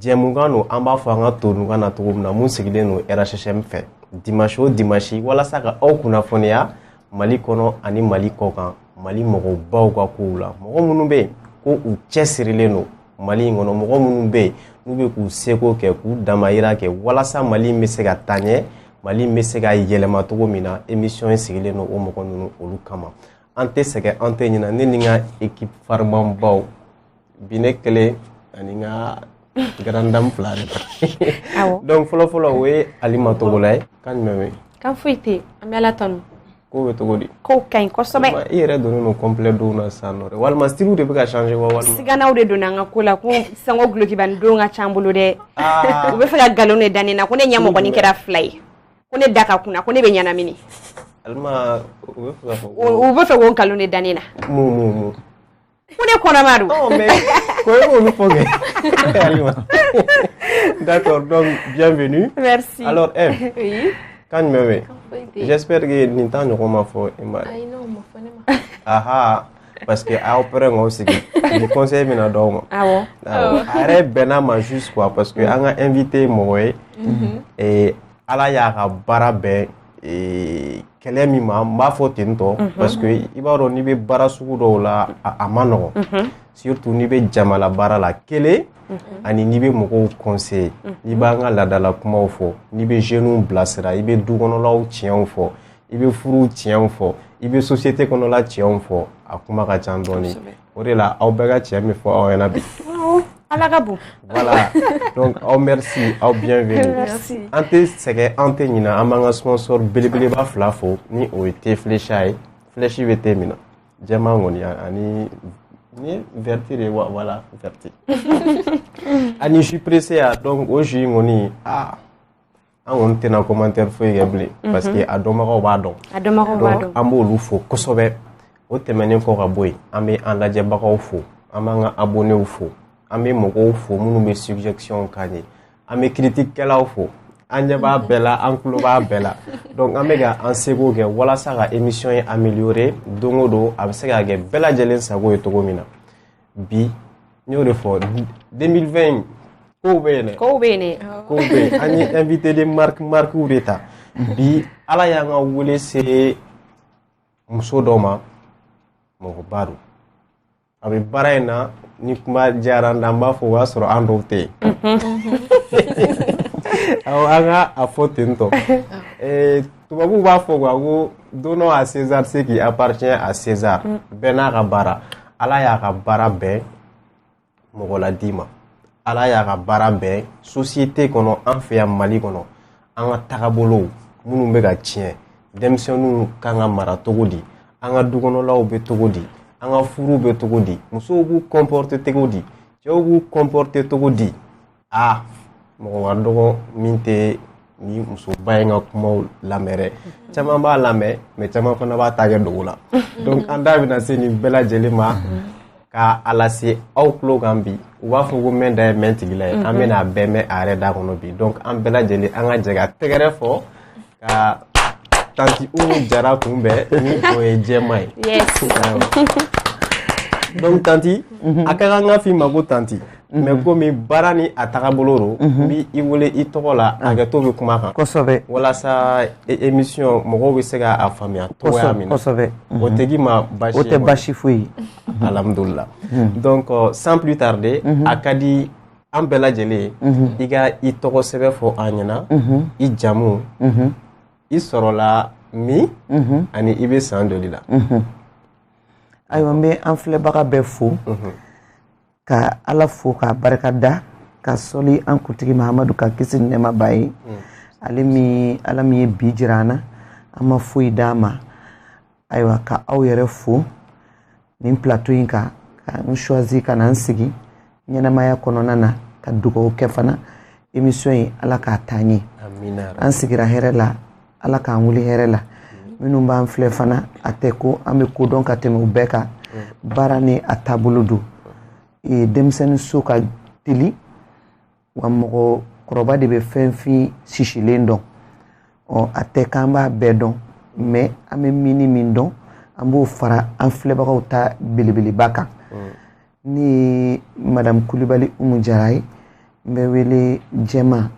jɛmukan don an b'a fɔ an ka tonukan na cogo min na min sigilen don rhhm fɛ dimanche o dimanche walasa ka aw kunnafoniya mali kɔnɔ ani mali kɔkan mali mɔgɔbaw ka kow la mɔgɔ minnu bɛ yen ko u cɛsirilen don mali in kɔnɔ mɔgɔ minnu bɛ yen n'u bɛ k'u seko kɛ k'u damayira kɛ walasa mali in bɛ se ka taa ɲɛ mali in bɛ se ka yɛlɛma cogo min na emisiyɔn in sigilen don o mɔgɔ ninnu olu kama an tɛ sɛgɛn an tɛ ɲinɛ ne ni n ka ekipu farimanbaw bi ne kelen ani n ka grande dame fila de don donc fɔlɔfɔlɔ o ye alima togola ye kan jumɛn bɛ kan foyi tɛ an bɛ ala tanu ko bɛ cogo di kow ka ɲi kosɛbɛ i yɛrɛ donnen don complet dɔw na sisan nɔ dɛ walima stylew de bɛ ka changer wa walima siganaw de donna an ka ko la ko sango dulɔkibanin don ka can bolo dɛ ah. u bɛ fɛ ka nkalon de da ne na ko ne ɲɛ mɔgɔnin kɛra fila ye ko ne da ka kunan ko ne bɛ ɲɛnamini alima u bɛ fɛ ka fɔ u bɛ fɛ k'o nkalon de da ne na mun mun mun ko ne kɔnɔma don oh, ko e b'olu fɔ kɛ d'accord donc bienvenue merci alors Ève eh, oui. kan jumɛn bɛ j'espère que nin ta ɲɔgɔn ma fɔ i ma ayi non o ma fɔ ne ma aha parce que aw pɛrɛn k'aw sigi ni conseil bɛna d'aw ma awɔ a yɛrɛ bɛnna ma juste quoi parce que an ka invité mɔgɔ ye ala y'a ka baara bɛn ee, kɛlɛ min ma n b'a fɔ ten tɔ mhm. parce que i b'a dɔn n'i bɛ baara sugu dɔw la a man nɔgɔn mhm. surtout n'i bɛ jamala baara la kelen mhm. ani n'i bɛ mɔgɔw conseiller n'i b'an ka laadala kumaw fɔ n'i bɛ jeunes bilasira i bɛ du kɔnɔlaw tiɲɛw fɔ i bɛ furuw tiɲɛw fɔ i bɛ société kɔnɔla tiɲɛw fɔ a kuma ka ca dɔɔnin o de la aw bɛɛ ka tiɲɛ bɛ fɔ aw ɲɛna bi ala ka bon voilà donc aw merci aw bienvenue merci an tɛ sɛgɛn an tɛ ɲinɛ an b'an ka sponsor belebeleba fila fo ni o ye thé flecha ye flèche bɛ thé min na jɛman kɔni ani ni vert de wa voilà vert ani jus présséa donc o jus in kɔni aa an kɔni tɛna commentaire foyi kɛ bilen mhm. parce que a dɔnbagaw b'a dɔn a dɔnbagaw b'a dɔn an b'olu fo kosɛbɛ o tɛmɛnen kɔ ka bɔ yen an bɛ an lajɛbagaw fo an b'an ka abonnés fo an bɛ mɔgɔw fo minnu bɛ suggestion k'an ye an bɛ critique kɛlaw fo an ɲɛ b'a bɛɛ la an tulo b'a bɛɛ la donc an bɛ ka an seko kɛ walasa ka émission in améliorer don o don a bɛ se ka kɛ bɛɛ lajɛlen sago ye cogo min na bi n y'o de fɔ 2020 kow bɛ yen dɛ kow bɛ yen kow bɛ yen an ye invité de marquew de ta bi ala y'an ka wele se muso dɔ ma mɔgɔba don a bɛ baara in na ni kuma diyara n da n b'a fɔ o y'a sɔrɔ an dɔw tɛ yen awɔ an ka a fɔ ten tɔ tubabuw b'a fɔ quoi ko donnons à César ce qui appartient à César mm. bɛɛ n'a ka baara ala y'a ka baara bɛn mɔgɔ ladi ma ala y'a ka baara bɛn société kɔnɔ an fɛ yan mali kɔnɔ an ka tagabolow minnu bɛ ka tiɲɛ denmisɛnninw kan ka mara cogo di an ka dukɔnɔlaw bɛ cogo di an ka furuw bɛ cogo di musow b'u kɔnpɔrite cogo di cɛw b'u kɔnpɔrite cogo di aa mɔgɔ ka dɔgɔ min tɛ nin musoba in ka kumaw lamɛn dɛ caman b'a lamɛn mɛ caman fana b'a ta kɛ dogo la donc an da bɛna se nin bɛɛ lajɛlen ma ka a lase aw tulo kan bi u b'a fɔ ko mɛn da ye mɛn tigila ye an bɛna a bɛɛ mɛn a yɛrɛ da kɔnɔ bi donc an bɛɛ lajɛlen an ka jɛ ka tɛgɛrɛ fɔ ka tanti umu jara kunbɛn ni o ye jɛma ye donc tanti a ka kan ka f'i ma ko tanti mɛ komi baara ni a tagabolo don n bɛ i wele i tɔgɔ la hakɛto bɛ kuma kan kosɛbɛ walasa émission mɔgɔw bɛ se k'a faamuya cogoya min na kosɛbɛ o tɛ k'i ma basi o tɛ basi foyi ye alhamdulila donc sans plus tarder a ka di an bɛɛ lajɛlen i ka i tɔgɔ sɛbɛ fɔ an ɲɛna i jamu i sɔrɔla min ani i bɛ san joli la ayiwa n bɛ an filɛbaga bɛɛ fo ka ala fo k'a barika da ka sɔli an kuntigi mahamadu kan kisi ni nɛɛma b'a ye ale min ala min ye bi jira an na an ma foyi d'a ma ayiwa ka aw yɛrɛ fo nin plateau in kan ka n choisi ka na n sigi ɲɛnamaya kɔnɔna na ka dugaw kɛ fana émission in ala k'a taa ɲɛ an sigira hɛrɛ la ala k'an wuli hɛrɛ la minnu b'an filɛ fana a tɛ ko an bɛ ko dɔn ka tɛmɛ u bɛɛ kan baara ni a taabolo don denmisɛnnin so ka teli wa mɔgɔ kɔrɔba de bɛ fɛnfin sisilen dɔn ɔ a tɛ k'an b'a bɛɛ dɔn mɛ an bɛ min ni min dɔn an b'o fara an filɛbagaw ta belebeleba kan mm. ne ye madamu kulibali umu jara ye n bɛ wele jɛma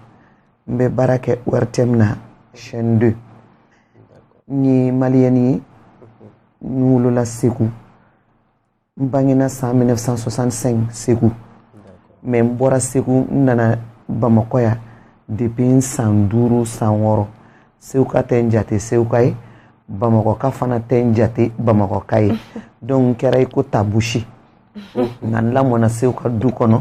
n bɛ baara kɛ ORTM na chaîne 2 n ye maliyɛni ye n wolola segu n bangena san 1965 segu mɛ n bɔra segu n nana bamakɔ yan depi n san duuru san wɔɔrɔ seguka tɛ n jate seguka ye bamakɔka fana tɛ n jate bamakɔka ye donc n kɛra i ko tabusi nka n lamɔna seguka du kɔnɔ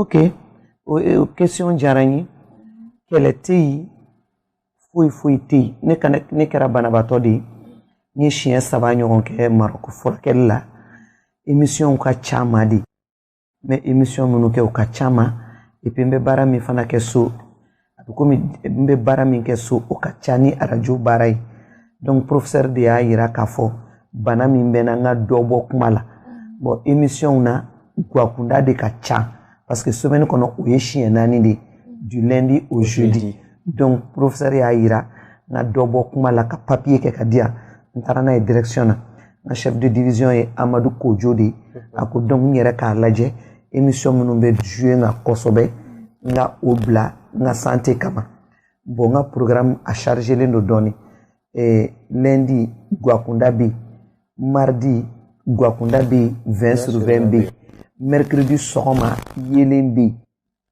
ok o e, o question diyara n ye kɛlɛ tɛ yen foyi foyi tɛ yen ne kana ne kɛra banabaatɔ de ye n ye siɲɛ saba ɲɔgɔn kɛ marɔku furakɛli la emisiyɔnw ka caman dɛ n bɛ emisiyɔn minnu kɛ u ka caman epi n bɛ baara min fana kɛ so a bɛ komi n bɛ baara min kɛ so o ka ca ni radio baara ye donc professeur de y'a yira k'a fɔ bana min bɛ n na n ka dɔ bɔ kuma la bon émissionw na guwakunda de ka ca parce que semaine kɔnɔ o ye siɲɛ naani de ye du lundi au jeudi donc professeur y'a yira n ka dɔ bɔ kuma la ka papier kɛ k'a di yan n taara n'a ye direction na n ka chef de division ye amadu kojo de ye a ko donc n yɛrɛ k'a lajɛ émission minnu bɛ jouer n kan kosɛbɛ n ka o bila n ka santé kama bon n ka programme a chargelen don dɔɔni eh, lundi guakunda bɛ yen mardi guakunda bɛ yen 20 sur 20 bɛ yen mercredi sɔgɔma yelen bɛ yen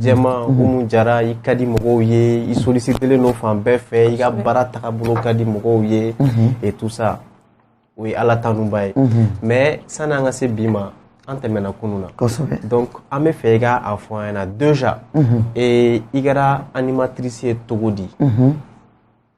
Jɛma Umu Jara i ka di mɔgɔw ye i sollicitelen don fan bɛɛ fɛ i ka baara tagabolo ka di mɔgɔw ye et tout ça o ye Ala tanuba ye mais sani an ka se bi ma an tɛmɛna kunun na donc an bɛ fɛ i ka a fɔ an ɲɛna déjà i kɛra animatrice ye cogo di.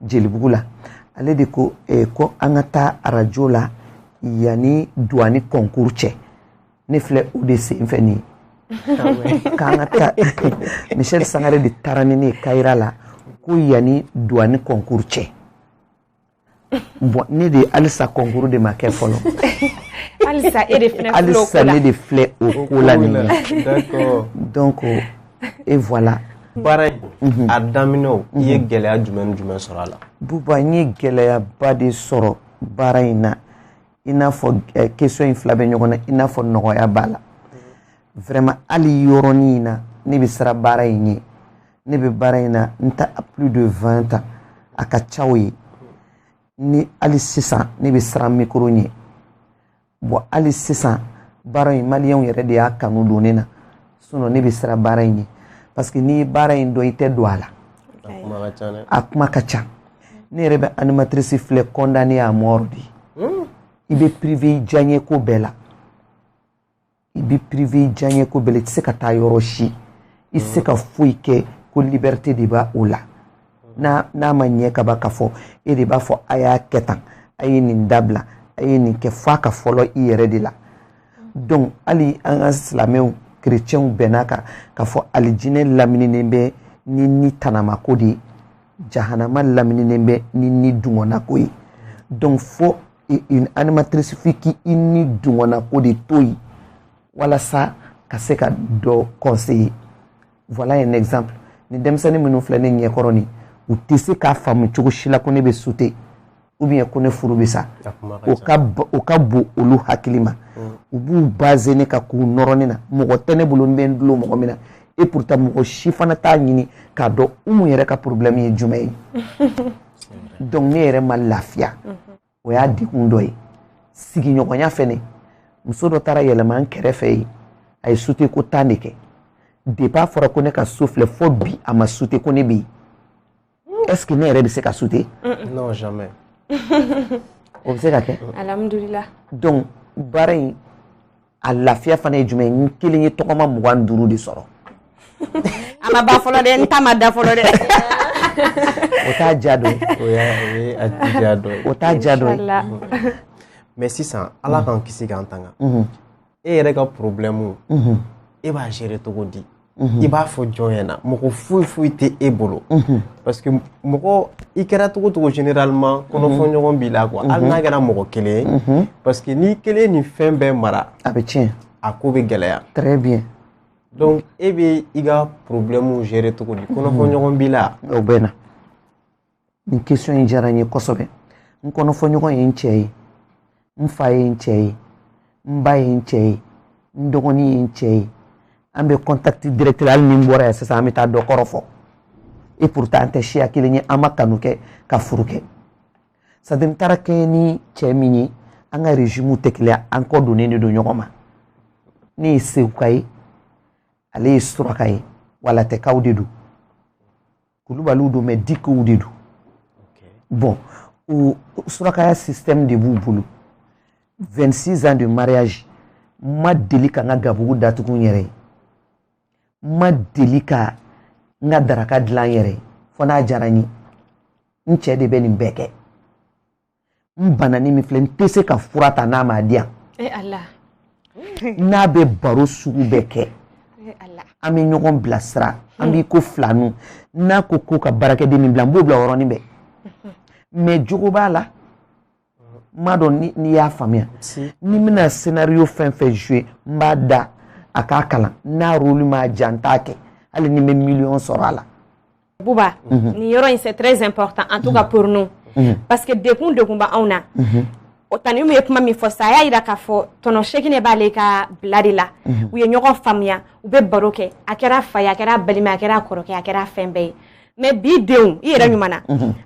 jelibugu la ale de ko eh, ko an ka taa arajo la yanni duwani kɔnkuru cɛ ne filɛ o de sen fɛ nin k'an ka taa michel sangare de taara ni ne ye kayira la ko yanni duwani kɔnkuru cɛ bɔn ne de halisa kɔnkuru de ma kɛ fɔlɔ halisa ne de filɛ o ko la nin ye donc et voilà baara in mhm. a daminɛ i ye mhm. gɛlɛya jumɛn ni jumɛn sɔrɔ a la buba n ye gɛlɛyaba de sɔrɔ baara in na i n'a fɔ eh, question in fila bɛ ɲɔgɔn na i n'a fɔ nɔgɔya b'a la vraiment hali yɔrɔnin in na ne bɛ siran baara in ɲɛ ne bɛ baara in na n ta plus de 20 ans a ka ca o ye ni hali sisan ne bɛ siran micro ɲɛ bɔn hali sisan baara in maliyɛnw yɛrɛ de y'a kanu don ne na sinɔn ne bɛ siran baara in ɲɛ parce que n'i ye baara in dɔn i tɛ don a la a kuma ka ca ne yɛrɛ bɛ animatrice filɛ condamné à mort de hmm. i bɛ privé diyaɲeko bɛɛ la i bɛ privé diyaɲɛ ko bɛɛ la i tɛ se ka taa yɔrɔ si i tɛ se ka foyi kɛ ko liberté de b'a o la n'a ma ɲɛ ka ban k'a fɔ e de b'a fɔ a y'a kɛ tan a ye nin dabila a ye nin kɛ f'a ka fɔlɔ i yɛrɛ de la donc hali an ka silamɛw kerecɛnw bɛnna a kan k'a fɔ alijinɛ lamininen bɛ ni ni tanamako de ye jahanama lamininen bɛ ni ni dungɔnako ye donc fo et une animatrice f'i k'i nidungɔnnako de to yen walasa ka se ka dɔ conseiller voilà un exemple ni denmisɛnnin minnu filɛ ne ɲɛkɔrɔ nin u tɛ se k'a faamu cogo si la ko ne bɛ sute ou bien ko ne furu bɛ sa o ka o ka bon olu hakili ma u b'u baser ne kan k'u nɔrɔ ne na mɔgɔ tɛ ne bolo n bɛ n dulon mɔgɔ min na et pourtant mɔgɔ si fana t'a ɲini k'a dɔn umu yɛrɛ ka problème ye jumɛn ye donc ne yɛrɛ ma lafiya o y'a degun dɔ ye sigiɲɔgɔnya fɛnɛ muso dɔ taara yɛlɛma n kɛrɛfɛ yen a ye sute ko tan de kɛ depuis a fɔra ko ne ka so filɛ fo bi a ma sute ko ne bɛ yen est ce que ne yɛrɛ bɛ se ka sute non jamais o bɛ se ka kɛ alhamdulillah donc baara in a lafiya fana ye jumɛn n kelen ye tɔgɔma mugan ni duuru de sɔrɔ a ma ban fɔlɔ dɛ n ta ma da fɔlɔ dɛ o t'a diya dɔ ye o t'a diya dɔ ye mais sisan ala mm. k'an kisi k'an tanga mm-hmm. e yɛrɛ ka problème mm-hmm. e b'a gérer cogo di Mhm. i b'a fɔ jɔn ɲɛna mɔgɔ foyi foyi tɛ e bolo mhm. parce que mɔgɔ i kɛra cogo cogo généralement mhm. kɔnɔfɔɲɔgɔn b'i la quoi hali n'a kɛra mɔgɔ kelen ye parce que n'i kelen nin fɛn bɛɛ mara a bɛ tiɲɛ a ko bɛ gɛlɛya très bien donc e bɛ i ka problème gérer cogo di kɔnɔfɔɲɔgɔn b'i la ou bien nin question in diyara n ye kosɛbɛ n kɔnɔfɔɲɔgɔn ye n cɛ ye n fa ye n cɛ ye n ba ye n cɛ ye n dɔgɔnin ye n cɛ ye an bɛ contact direct hali ni n bɔra yan sisan an bɛ taa dɔ kɔrɔ fɔ et pourtant an tɛ siya kelen ye an ma kanu kɛ ka furu kɛ c'est à dire n taara kɛɲɛ ni cɛ min ye an ka régime tɛ kelen an kɔ donnen de don ɲɔgɔn ma ne ye seguka ye ale ye suraka ye walatɛkaw de don kulubaliw don mais dikow de don bon o surakaya système de b'u bolo 26 ans de mariage n ma deli ka n ka gabugu datugu n yɛrɛ ye n ma deli ka n ka daraka dilan n yɛrɛ ye fo n'a diyara n ye n cɛ de bɛ nin bɛɛ kɛ n banani min filɛ n tɛ se ka fura ta n'a m'a di yan eh, n'a bɛ baro sugu bɛɛ kɛ eh, an bɛ ɲɔgɔn bilasira an hmm. b'i ko filaniw n'a ko ko ka baarakɛden min bila n b'o bila o yɔrɔnin bɛɛ hmm. mais jogo b'a la n m'a dɔn n'i y'a faamuya ni n bɛna scénario fɛn fɛn jouer n b'a da a k'a kalan n'a rôle m'a diya n t'a kɛ hali ni n bɛ miliyɔn sɔrɔ a la buba mhm. ni yɔrɔ in c'est très important en tout cas mhm. pour nous mhm. parce que degun degun bɛ anw na o tanti umu ye kuma min fɔ sa a y'a yira k'a fɔ tɔnɔ sekine b'ale ka bila de la u ye ɲɔgɔn faamuya u bɛ baro kɛ a kɛra fa ye a kɛra balima a kɛra kɔrɔkɛ a kɛra fɛn bɛɛ ye mais bi denw i yɛrɛ ɲuman na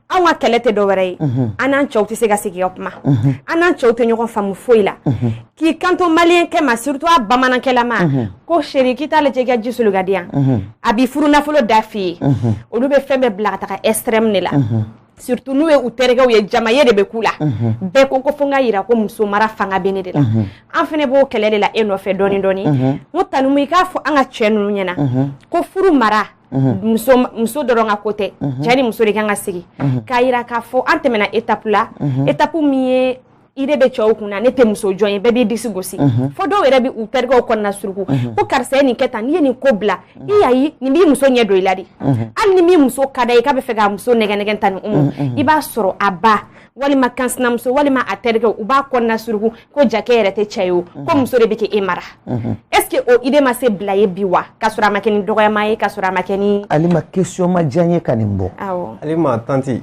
anw ka kɛlɛ tɛ dɔ wɛrɛ ye an n'an cɛw tɛ se ka sigi ka kuma an n'an cɛw tɛ ɲɔgɔn faamu foyi la k'i kanto maliyɛnkɛ ma surtout a bamanankɛlama mhm. ko chéri k'i t'a lajɛ i ka ji soli ka di yan mhm. a b'i furu nafolo da f'i ye mhm. olu bɛ fɛn bɛɛ bila ka taga extrême de la surtout n'u ye u terikɛw ye jamaye de bɛ k'u la bɛɛ ko ko fo n ka yira ko muso mara fanga bɛ ne de la an fana b'o kɛlɛ de la e nɔfɛ dɔɔni dɔɔni n ko tanti umu i k'a fɔ an ka cɛ ninnu ɲɛna ko furu mara muso dɔrɔn ka ko tɛ cɛ ni muso de kan ka sigi k'a yira k'a fɔ an tɛmɛna étape la étape min ye i de bɛ cɛw kunna ne tɛ muso jɔn ye bɛɛ b'i disi gosi fo dɔw yɛrɛ bɛ u terikɛw kɔnɔna suruku ko karisa ye nin kɛ tan n'i ye nin ko bila i y'a ye nin b'i muso ɲɛ don i la de hali ni min muso ka d'a ye k'a bɛ fɛ k'a muso nɛgɛ nɛgɛ tanti umu i b'a sɔrɔ a ba walima kansinamuso walima a terikɛw u b'a kɔnɔna suruku ko jaa k'e yɛrɛ tɛ cɛ ye o ko muso de bɛ ka e mara est ce que o idée ma se bila ye bi wa k'a sɔrɔ a ma kɛ ni dɔgɔyama ye k'a sɔrɔ a ma kɛ ni alima question ma diya n ye ka nin bɔ awɔ alima tanti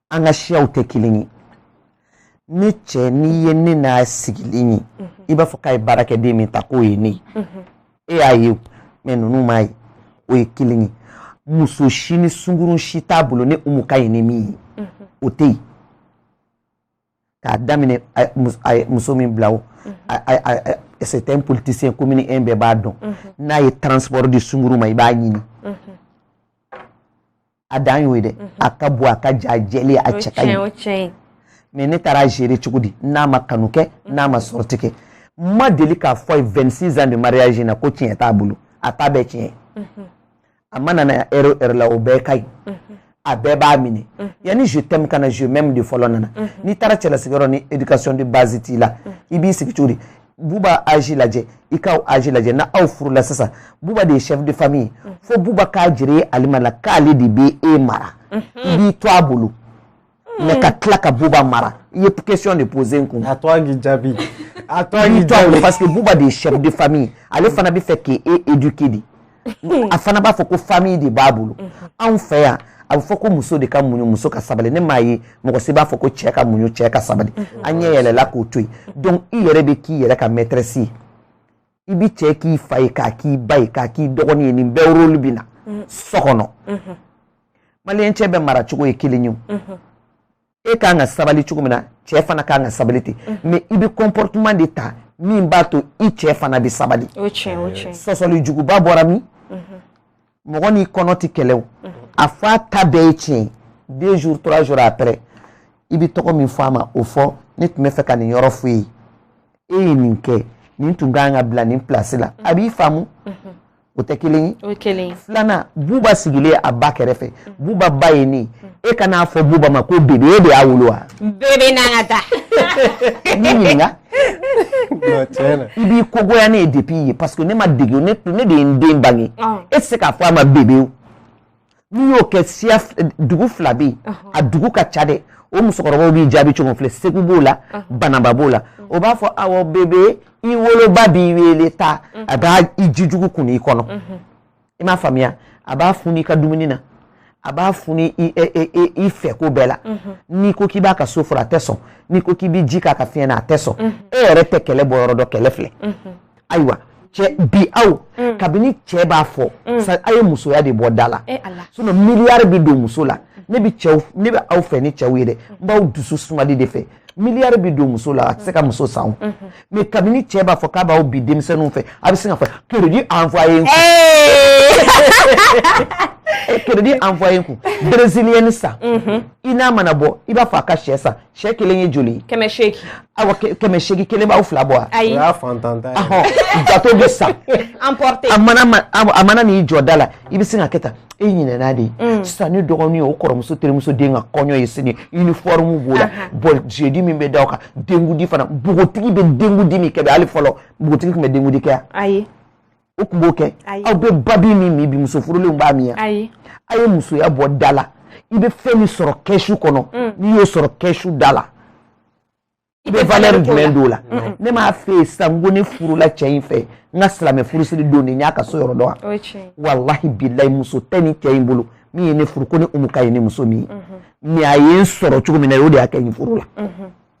an ka siyaw tɛ kelen ye ne cɛ n'i ye ne n'a sigilen ye mhm. i b'a fɔ k'a ye baarakɛden min ta k'o ye ne ye mhm. e y'a ye mais ninnu m'a ye o ye kelen ye muso si ni sunkurun si t'a bolo ne umu ka ye ni min ye mhm. o tɛ yen k'a daminɛ a ye muso min bila o c'est un politicien commune 1 bɛɛ b'a dɔn n'a ye transport di sunkurun ma i b'a ɲini a dan y'o ye dɛ a ka bon a ka jan a jɛlen a cɛ ka ɲi mais ne taara gérer cogo di n'a ma kanu kɛ n'a ma sortie kɛ n ma deli k'a fɔ a ye 26 ans de mariage in na ko tiɲɛ t'a bolo a t'a bɛɛ tiɲɛ a mana na heure o heure la o bɛɛ ka ɲi a bɛɛ b'a minɛ yanni je t'aime ka na je m'aime de fɔlɔ nana n'i taara cɛlasigiyɔrɔ ni éducation de base t'i la i b'i sigi cogo di buba âge lajɛ i ka âge lajɛ na aw furula sisan buba de ye chef de famille ye mm. fo buba k'a jira alima la k'ale de bɛ e mara mm-hmm. i b'i to a bolo mm. mais ka tila ka buba mara i ye question de poser n kun. a to a k'i jaabi a to a k'i jaabi parce que buba de ye chef de famille ale fana bɛ fɛ k'e éduquer de. Hmm. a fana b'a fɔ ko famille de b'a bolo hmm. anw fɛ yan a bɛ fɔ ko muso de ka muɲu muso ka sabali ne m'a ye mɔgɔ si b'a fɔ ko cɛ ka muɲu cɛ ka sabali hmm. an ɲɛ yɛlɛla k'o to yen donc i yɛrɛ bɛ k'i yɛrɛ ka maîtresse ye i b'i cɛ k'i fa ye k'a k'i ba ye k'a k'i dɔgɔnin ye nin bɛɛ rôle bɛ na so kɔnɔ maliyɛn cɛ bɛɛ mara cogo ye kelen ye e ka kan ka sabali cogo min na cɛ fana ka kan ka sabali ten mais i bɛ comportement de ta min b'a to i cɛ fana bɛ sabali sɔsɔli juguba bɔra min mɔgɔ n'i kɔnɔ tɛ kɛlɛ o a fɔ a ta bɛɛ ye tiɲɛ deux jours trois jours après i bɛ tɔgɔ min fɔ a ma o fɔ ne tun bɛ fɛ ka nin yɔrɔ fɔ i ye e ye nin kɛ nin tun ka kan ka bila nin place la a b'i faamu o tɛ kelen ye filanan buba sigilen a ba kɛrɛfɛ buba ba ye ne e kan'a fɔ buba ma ko bebe e de y'a wolo wa bebe n'an ka taa ne ɲininka i b'i kogoya ne ye de ye parce que ne ma de ne de ye n den bange e tɛ se k'a fɔ a ma bebe n'i y'o kɛ siya dugu fila bɛ yen a dugu ka ca dɛ o musokɔrɔbaw b'i jaabi cogo filɛ segu b'o la banamba b'o la o b'a fɔ a bebe i woloba b'i weele taa a b'a i ji jugu kun i kɔnɔ i m'a faamuya a b'a funu i ka dumuni na a b'a funu i fɛ ko bɛɛ la n'i ko k'i b'a ka so furan a tɛ sɔn n'i ko k'i bɛ ji k'a ka fiɲɛ na a tɛ sɔn e yɛrɛ tɛ kɛlɛ bɔ yɔrɔ dɔn kɛlɛ filɛ ayiwa cɛ bi aw mm. kabini cɛ b'a fɔ mm. sa a ye musoya de bɔ da la eh, sinon miliyari bɛ don muso la ne bɛ cɛw ne bɛ aw fɛ ni cɛw ye dɛ n b'aw dusu sumali de fɛ miliyari bɛ don muso la a tɛ se ka muso san o mm-hmm. mais kabini cɛ b'a fɔ k'a b'aw bi denmisɛnninw fɛ a bɛ sin k'a fɔ crédit envoyé n kun crédit envoyé n kun brésilienne san i n'a mana bɔ i b'a fɔ a ka sɛ san sɛ kelen ye joli kɛmɛ seegin awa kɛmɛ seegin kelen b'aw fila bɔ wa ayi o y'a fantan ta ye gato bɛ san emporté a mana ma a mana n'i jɔ da la i bɛ sin ka kɛ tan e ɲinɛna de mm. sisan ne dɔgɔnin ye o kɔrɔmuso terimuso den ka kɔɲɔ ye sini uniforme b'o la bon jeudi min bɛ da o kan denkundi fana npogotigi bɛ denkundi min kɛ bi hali fɔlɔ npogotigi tun bɛ denkundi kɛ yan ayi o tun b'o kɛ aw bɛ babi min min bi muso furulenw b'a min a ye musoya bɔ da la i bɛ fɛn min sɔrɔ kɛsu kɔnɔ mm. n'i y'o sɔrɔ kɛsu da la i bɛ valeur jumɛn don o la ne m'a f'i ye sisan ko ne furula cɛ in fɛ n ka silamɛ furusiri don de n y'a ka so yɔrɔ dɔn wa walahi bilayi muso tɛ nin cɛ in bolo min ye ne furu ko ne umu ka ɲi ni muso min ye mais mm-hmm. a ye n sɔrɔ cogo min na o de y'a kɛ n furula mm-hmm.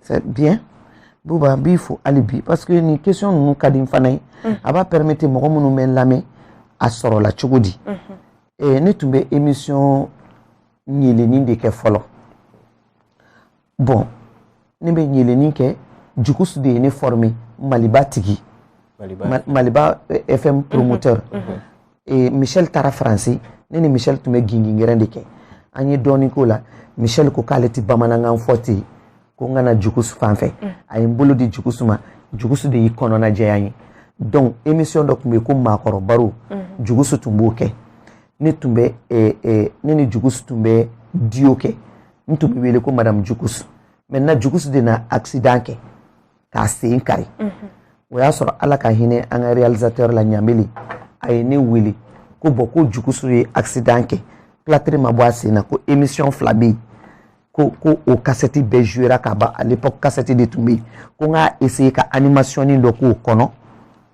c'est bien Bouba n b'i fo hali bi parce que nin question ninnu ka di n fana ye mm. a b'a permettre mɔgɔ minnu bɛ n lamɛn a sɔrɔla cogo di mm-hmm. eh, ne tun bɛ émission ɲelenni de kɛ fɔlɔ bon ne bɛ ɲelenni kɛ jukusu de ye ne formé maliba tigi maliba fm mm-hmm. promoteur mm-hmm. e, michel taara faransi ne ni michel tun bɛ gingingɛrɛn de kɛ an ye dɔɔnin k'o la michel ko k'ale tɛ bamanankan fɔ ten ko n ka na jugusu fan fɛ mm. a ye n bolo di jugusu ma jugusu de y'i kɔnɔna jɛya n ye donc émission dɔ tun bɛ yen ko maakɔrɔ baro mm. jugusu tun b'o kɛ ne tun bɛ e, e, ne ni jugusu tun bɛ duo kɛ n tun bɛ wele ko madamu jugusu maintenant jugusu de na accident kɛ k'a sen kari o y'a sɔrɔ ala ka hinɛ an ka réalisateur la ɲamele a ye ne wele ko bɔn ko jugusu ye accident kɛ platiri ma bɔ a sen na ko émission fila bɛ yen ko ko o kasɛti bɛɛ jouera ka ban à l'époque kasɛti de tun bɛ yen ko n k'a essayer ka animationnin dɔ k'o kɔnɔ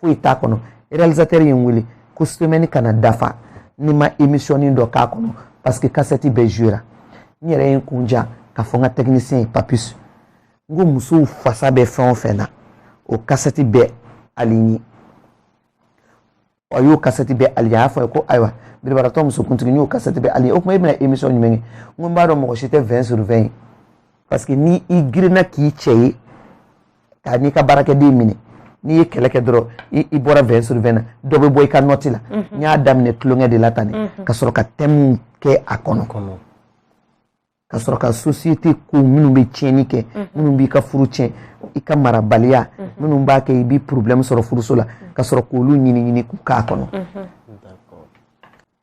foyi t'a kɔnɔ realisatɛri ye n wele ko semɛni kana dafa ni n ma emisiyɔni dɔ k'a kɔnɔ paseke kasɛti bɛɛ zuwera n yɛrɛ ye n kun ja k'a fɔ n ka tɛkinisiyɛn ye papis n ko musow fasa bɛ fɛn o fɛn na o kasɛti bɛɛ alinye a y'o kasɛti bɛɛ alinye a y'a fɔ n ye ko ayiwa biribaratɔ musokuntigi n y'o kasɛti bɛɛ alinye o tuma e bɛna emisiyɔn jumɛn kɛ n ko n b'a dɔn mɔgɔ si tɛ vɛn sur vɛn ye paseke ni i girinna k'i cɛ ye k'a n'i ka baarakɛden minɛ n'i ye kɛlɛ kɛ dɔrɔn i bɔra vɛn sur vɛn na dɔ bɛ bɔ i ka nɔti la n y'a daminɛ tulonkɛ de la tan ne ka sɔrɔ ka tɛmu kɛ a kɔnɔ ka sɔrɔ ka sosiyete ko minnu bɛ tiɲɛni kɛ minnu b'i ka furu tiɲɛ i ka marabaliya minnu b'a kɛ i bɛ porobilɛmu sɔrɔ furuso la ka sɔrɔ k'olu ɲini ɲini k'u k'a kɔnɔ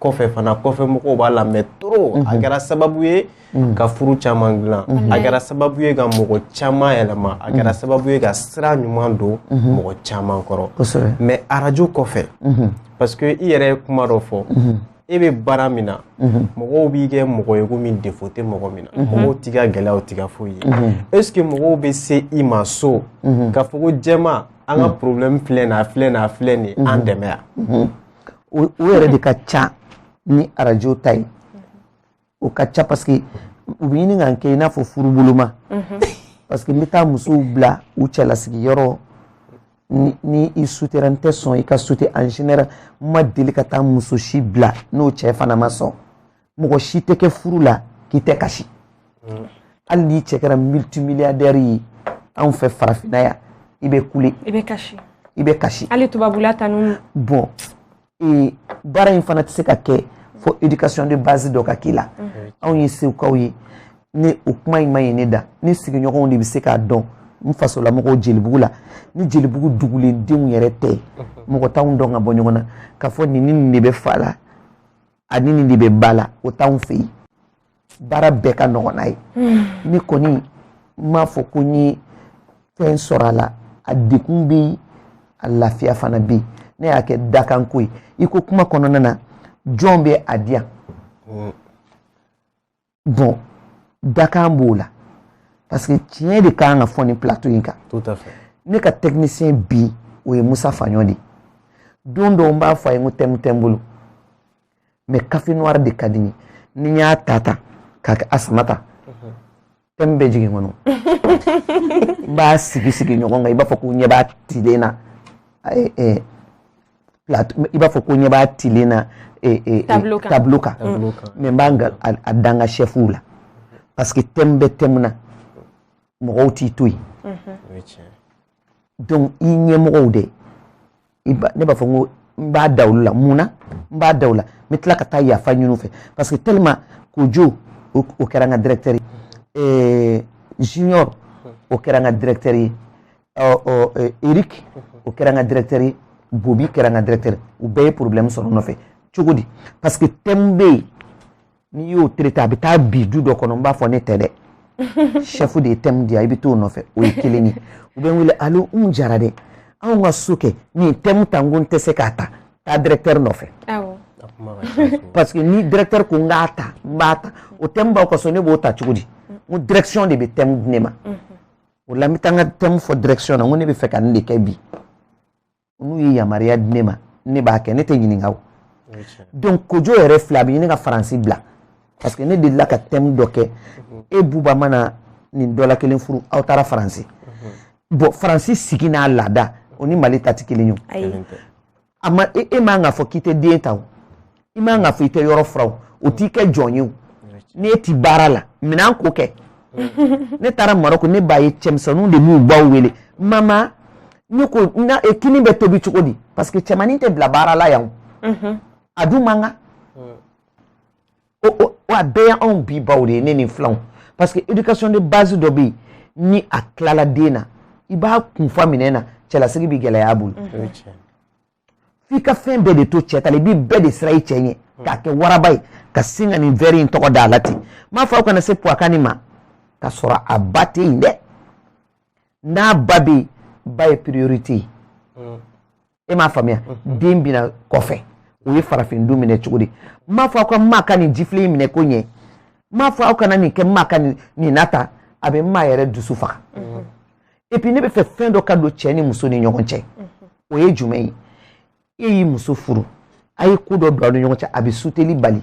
kɔfɛ fana kɔfɛ mɔgɔw b'a lamɛn trop a kɛra sababu ye ka furu caman dilan a kɛra sababu ye ka mɔgɔ caman yɛlɛma a kɛra sababu ye ka sira ɲuman don mɔgɔ caman kɔrɔ mais arajo kɔfɛ parce que i yɛrɛ ye kuma dɔ fɔ e bɛ baara min na mɔgɔw b'i kɛ mɔgɔ ye komi défaut tɛ mɔgɔ min na mɔgɔw t'i ka gɛlɛyaw t'i ka foyi ye est ce que mɔgɔw bɛ se i ma so k'a fɔ ko jɛma an ka problème filɛ nin ye a filɛ nin ye a filɛ nin ye an dɛmɛ yan o yɛrɛ de ka ca ni arajo ta ye o ka ca parce que u bɛ ɲini ka n kɛ i n'a fɔ furuboloma mhm. parce que n bɛ taa musow bila u cɛlasigi yɔrɔ ni ni i sutera n tɛ sɔn i ka sute en général n ma deli ka taa muso si bila n'o cɛ fana ma sɔn mɔgɔ si tɛ kɛ furu la k'i tɛ kasi mm. hali n'i cɛ kɛra multimilliardaire ye anw fɛ farafinna yan i bɛ kule i bɛ kasi i bɛ kasi hali tubabula tan o bɔn ee baara in fana tɛ se ka kɛ fo éducation de base dɔ ka k'i la mm-hmm. anw ye segukaw ye ni o kuma in ma ye ne da ne sigiɲɔgɔnw de bɛ se k'a dɔn n fasolamɔgɔw jelibugu la ni jelibugu dugulendenw yɛrɛ tɛ mɔgɔ t'anw dɔn ka bɔ ɲɔgɔn na k'a fɔ nin ni nin de bɛ fa la ani nin de bɛ ba la o t'anw fɛ yen baara bɛɛ ka nɔgɔ n'a ye hmm. ne kɔni n m'a fɔ ko n ye fɛn sɔrɔ a la a degun bɛ yen a lafiya fana bɛ yen ne y'a kɛ dakanko ye i ko kuma kɔnɔna na jɔn bɛ a di yan hmm. bon dakan b'o la parce que tiɲɛ de kan ka fɔ nin plateau in kan ne ka technicien bi o ye musa faɲɔ de ye don dɔw n b'a fɔ a ye n ko thème tɛ n bolo mais café noir de ka di n ye ni n y'a ta ta k'a kɛ a sama tan thème bɛ jigin kɔnɔ n b'a sigi sigi ɲɔgɔn kan i b'a fɔ ko n ɲɛ b'a tilen na i b'a fɔ ko ɲɛ b'a tilen na eh, eh, eh, tableau kan tableau kan tableau kan mais n b'a nka- a a da n ka chefw la parce que thème bɛ thème na mɔgɔw t'i to yen o ye tiɲɛ ye. donc i ɲɛmɔgɔw de i ba- ne b'a fɔ n ko n b'a da olu la mun na n b'a da u la n bɛ tila ka taa yafa ɲini u fɛ parce que tellement kojo o o kɛra n ka directeur ye ɛɛ junior o kɛra n ka directeur ye eric o kɛra n ka directeur ye bobi kɛra n ka directeur ye u bɛɛ ye problème sɔrɔ nɔfɛ cogo di parce que thème bɛ yen n'i y'o traité a bɛ taa bin du dɔ kɔnɔ n b'a fɔ ne tɛ dɛ chef de ye thème di yan i bɛ t'o nɔfɛ o ye kelen ye u bɛ n wele allô n jara dɛ anw ka so kɛ nin thème ta n ko n tɛ se k'a ta taa directeur nɔfɛ parce que ni directeur ko n k'a ta n b'a ta o thème b'aw ka so ne b'o ta cogo di n ko direction de bɛ thème di ne ma. o la n bɛ taa n ka thème fɔ direction na n ko ne bɛ fɛ ka nin de kɛ bi n'u ye yamaruya di ne ma ne b'a kɛ ne tɛ ɲininka o donc kojo yɛrɛ filɛ a bɛ ɲini ka faransi bila parce que ne delila ka thème dɔ kɛ e bɛ bamanan nin dɔ la kelen furu aw taara faransi bon faransi sigi n'a laada o ni mali ta tɛ kelen ye a ma e, e man ka fɔ k'i tɛ den ta o i man ka fɔ i tɛ yɔrɔ furan o o t'i kɛ jɔn ye o ni e ti baara la minɛnko kɛ ne taara marɔku ne b'a ye cɛmisɛnninw de b'u baw wele mama ne ko n ka e, kini bɛ tobi cogo di parce que cɛmannin tɛ bila baara la yan o a dun man kan o o o a bɛɛ y'anw bi baw de ye ne ni filanw parce que éducation de base dɔ bɛ yen ni a tilala den na i b'a kunfa minɛ na cɛlasigi bɛ gɛlɛya a bolo o ye tiɲɛ ye. f'i ka fɛn bɛɛ de to cɛ ta la i b'i bɛɛ de siran i cɛ ɲɛ k'a kɛ waraba ye ka sin ka nin wɛri in tɔgɔ da a la ten n b'a fɔ aw kana se puwakani ma ka sɔrɔ a ba tɛ yen dɛ n'a ba bɛ yen ba ye priorité ye e m'a faamuya den bɛna kɔfɛ o ye farafin du minɛ cogo di n m'a fɔ aw ka maa ka nin jifilen in minɛ ko ɲɛ n m'a fɔ aw kana nin kɛ maa ka nin na ta a bɛ maa yɛrɛ dusu faga et puis ne bɛ fɛ fɛn dɔ ka don cɛ ni muso ni ɲɔgɔn cɛ o ye jumɛn ye e y'i muso furu a ye ko dɔ don aw ni ɲɔgɔn cɛ a bɛ suteli bali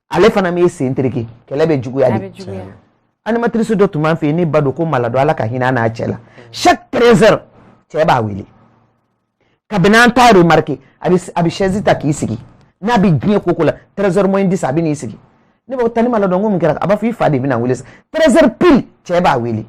ale fana b'i sen tereke kɛlɛ bɛ juguya de animatrice dɔ tun b'an fɛ yen ne ba don ko Malado Ala ka hinɛ a n'a cɛ la chaque 13 heures cɛ b'a wele kabini an t'a remarquer a bɛ a bɛ chaise ta k'i sigi n'a bɛ diɲɛ ko o ko la 13 heures moins 10 a bɛ n'i sigi ne b'a fɔ Tani Malado n ko mun kɛra a b'a fɔ i fa de bɛna n wele sisan 13 heures pile cɛ b'a wele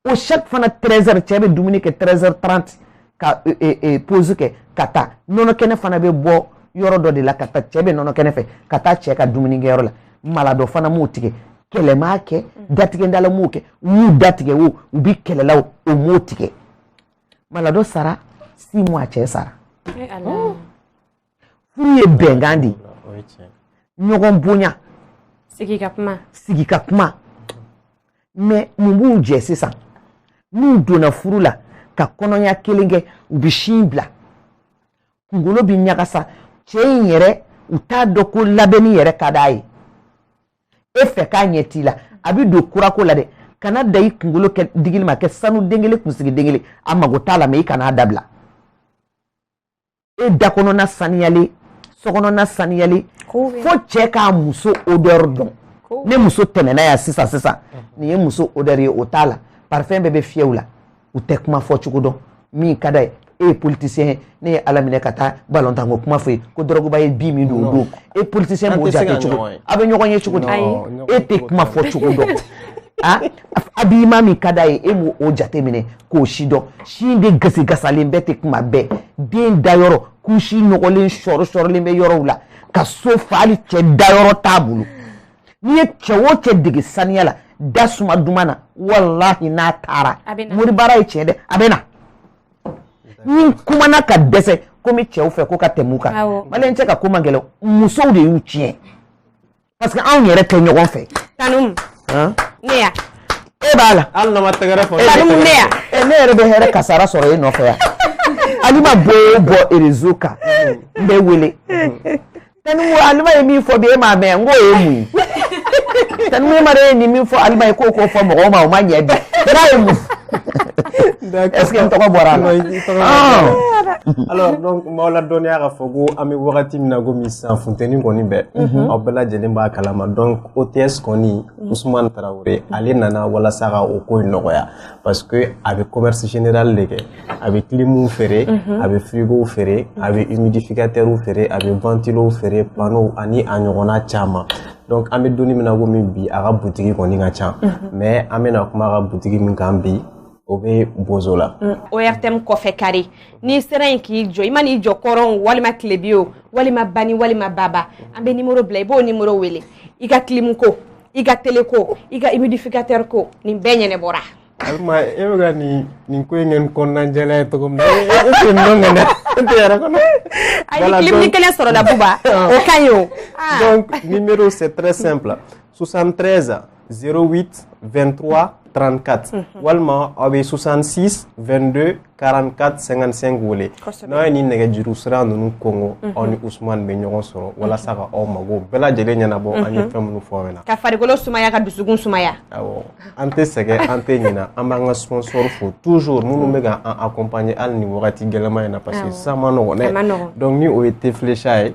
o chaque fana 13h cɛ bɛ dumuni kɛ 13h30 ka euh, euh, euh, pause kɛ ka taa nɔnɔ kɛnɛ fana bɛ bɔ yɔrɔ dɔ de la ka taa cɛ bɛ nɔnɔ kɛnɛ fɛ ka taa cɛ ka dumuni kɛyɔrɔ la Malado fana m'o tigɛ kɛlɛ m'a kɛ mm. datigɛdala m'o kɛ u y'u datigɛ o u bɛ kɛlɛ la o m'o tigɛ Malado sara 6 mois cɛ sara. furu ye bɛnkan de ye ɲɔgɔn bonya sigi ka kuma sigi ka kuma mais mun b'u jɛ sisan n'u donna furu la ka kɔnɔya kelen kɛ u bɛ sin bila kunkolo bɛ ɲagasa cɛ in yɛrɛ u t'a dɔn ko labɛnni yɛrɛ ka d'a ye e fɛ k'a ɲɛ t'i la a bɛ don kurako la dɛ kana da i kunkolo kɛ digili ma kɛ sanu den kelen kunsigi den kelen a mago t'a la mais i kan'a dabila e da kɔnɔna saniyalen so kɔnɔna saniyalen fo cɛ k'a muso odeur dɔn ne muso tɛmɛna yan sisan sisan nin ye muso odeur ye o t'a la parfum bɛɛ bɛ fiyɛ u la u tɛ kuma fɔ cogo dɔn min ka d'a ye e ye politicien ye ne ye ala minɛ ka taa balontan ko kuma fɔ ye ko Drogba ye bi min don o don e politicien b'o jate cogo a bɛ ɲɔgɔn ye cogo di e tɛ kuma fɔ cogo dɔn a b'i ma min ka d'a ye e m'o jateminɛ k'o si dɔn sin de gasigasalen bɛɛ tɛ kuma bɛɛ den dayɔrɔ couche nɔgɔlen sɔri sɔrilen bɛ yɔrɔw la ka so fa hali cɛ dayɔrɔ t'a bolo n'i ye cɛ o cɛ dege saniya la da suma duman na walahi n'a taara moribaara ye tiɲɛ dɛ a bɛ na ni kumana ka dɛsɛ komi cɛw fɛ ko ka tɛmɛ u kan malien cɛ ka ko man gɛlɛn musow de y'u tiɲɛ parce que anw yɛrɛ tɛ ɲɔgɔn fɛ tanum ne ya e b'a la hali n'a ma tɛgɛrɛ fɔ tanum ne ya eh, ne yɛrɛ bɛ hɛrɛ kasara sɔrɔ e nɔfɛ yan Alima bɔ o bɔ réseau kan n bɛ wele tanum alima ye min fɔ bi e m'a mɛn n k'o ye mun ye tanum e ma de ye nin min fɔ alima ye k'o k'o fɔ mɔgɔw ma o ma ɲɛ bi n'a ye mun Est-ce que n tɔgɔ bɔra a la? Non, i tɔgɔ ma bɔ. Ɔn! Alors donc n b'aw ladɔnniya k'a fɔ ko an bɛ wagati min na komi sisan funteni kɔni bɛ, unhun, aw bɛɛ lajɛlen b'a kalama donc OTS kɔni, Ousmane Traoré, ale nana walasa ka o ko in nɔgɔya parce que a bɛ commerce général de kɛ, a bɛ clim feere, unhun, a bɛ frigo feere, a bɛ humidificateur feere, a bɛ ventilo feere, panneau ani a ɲɔgɔnna caman. Donc an bɛ donni min na komi bi a ka butigi kɔni ka ca, unhun, mais an bɛna kuma a ka butigi min kan bi o bɛ Bozola mm, ORTM kɔfɛ carré n'i sera yen k'i jɔ i man'i jɔ kɔrɔn walima tilebin o walima bani walima baba an bɛ nimoro bila i b'o nimoro wele i ka kilimu ko i ka tele ko i ka humidificateur ko nin bɛɛ ɲɛnabɔra alima e bɛ ka nin nin ko in kɛ ni kɔnɔna jɛlen ye cogo min na e tɛ nin dɔn ŋɛnɛ e tɛ yɛrɛ kɔnɔ a ye kilimunin kelen sɔrɔ la buba o ka ɲi o donc numéro c'est très simple 73 08 23 34 mhm. walima aw bɛ 66 22 44 55 wele n'aw ye nin nɛgɛjuru sira ninnu kɔnkɔn mhm. aw ni usumani bɛ ɲɔgɔn sɔrɔ mhm. walasa ka aw mago bɛɛ lajɛlen ɲɛnabɔ an ye fɛn minnu fɔ aw ɲɛna ka farikolo sumaya ka dusukun sumaya awɔ an tɛ sɛgɛn an tɛ ɲinɛ an b'an ka sponsor fo toujours minnu bɛ ka an accompagner hali nin wagati gɛlɛman in na parce que sisan man nɔgɔn dɛ donc ni o ye thé Flecha ye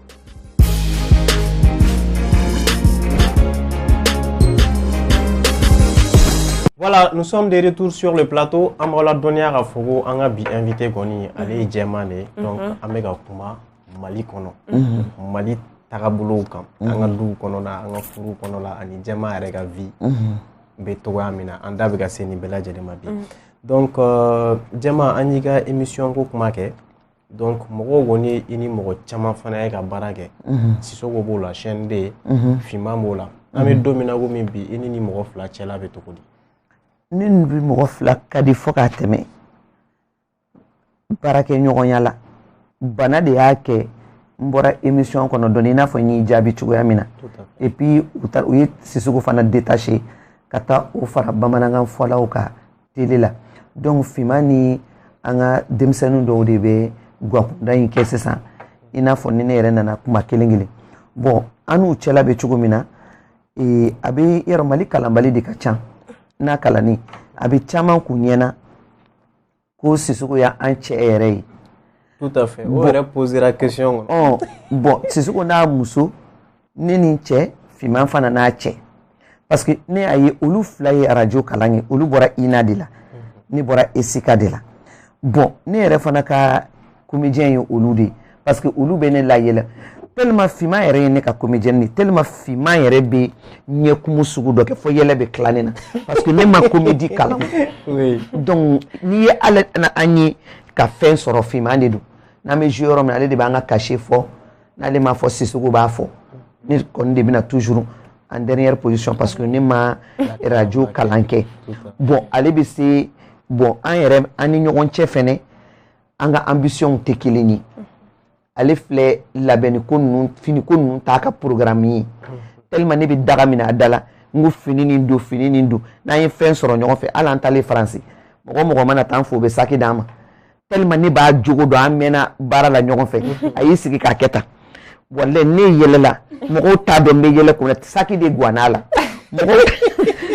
Voilà, nous sommes de retour sur le plateau. An b'aw ladɔnniya k'a fɔ ko an ka bi invité kɔni ale ye jɛman de ye donc an bɛ ka kuma Mali kɔnɔ Mali tagabolow kan an ka duw kɔnɔna an ka furuw kɔnɔna ani jɛman yɛrɛ ka vie bɛ cogoya min na an da bɛ ka se nin bɛɛ lajɛlen ma bi donc euh, jɛman an y'i ka émission ko kuma kɛ donc mɔgɔw kɔni ye i ni mɔgɔ caman fana ye ka baara kɛ sisoko b'o la chaîne 2 finman b'o la an bɛ don min na komi bi i ni nin mɔgɔ fila cɛla bɛ cogo di ne ni bi mɔgɔ fila ka di fo k'a tɛmɛ baarakɛ ɲɔgɔnya la bana de y'a kɛ n bɔra émission kɔnɔ dɔɔni i n'a fɔ n y'i jaabi cogoya min na et puis u taara u ye sisoko fana détaché ka taa o fara bamanankan fɔlaw kan tele la donc finman ni an ka denmisɛnnin dɔw de bɛ guwakunda in kɛ sisan i n'a fɔ ni ne yɛrɛ nana kuma kelen kelen bon an n'u cɛla bɛ cogo min na ee, a bɛ yɔrɔ mali kalanbali de ka ca n'a kalannen a bɛ caman k'u ɲɛna ko sisoko y'an cɛ yɛrɛ ye tout à fait o yɛrɛ posera question kɔnɔ bon sisoko n'a muso ne ni n cɛ finman fana n'a cɛ parce que ne y'a ye olu fila ye arajo kalan kɛ olu bɔra ina de la ne bɔra esika de la bon ne yɛrɛ fana ka komediyɛn ye olu de ye parce que olu bɛ ne layɛlɛ tellement finman yɛrɛ ye ne ka comédienne de tellement finman yɛrɛ bɛ ɲɛkumu sugu dɔ kɛ fo yɛlɛ bɛ tila ne na parce que ne ma comédie kalan donc n'i ye ale na an ye ka fɛn sɔrɔ finman de don n'an bɛ jouer yɔrɔ min na ale de b'an ka cachet fɔ n'ale m'a fɔ sisoko b'a fɔ ne kɔni de bɛ na toujours en dernière position parce que ne ma radio kalan kɛ bon ale bɛ se bon an yɛrɛ an ni ɲɔgɔn cɛ fɛnɛ an ka ambition tɛ kelen ye ale filɛ labɛnni ko ninnu fini ko ninnu t'a ka programme ye tellement ne bɛ daga min na a da la n ko fini nin don fini nin don n'an ye fɛn sɔrɔ ɲɔgɔn fɛ hali an taalen faransi mɔgɔ mɔgɔ mana taa an fo u bɛ saki d'an ma tellement ne b'a jogo dɔn an mɛnna baara la ɲɔgɔn fɛ a y'i sigi k'a kɛ tan walayi ne yɛlɛla mɔgɔw t'a dɔn n bɛ yɛlɛ kun na saki de guwanna a la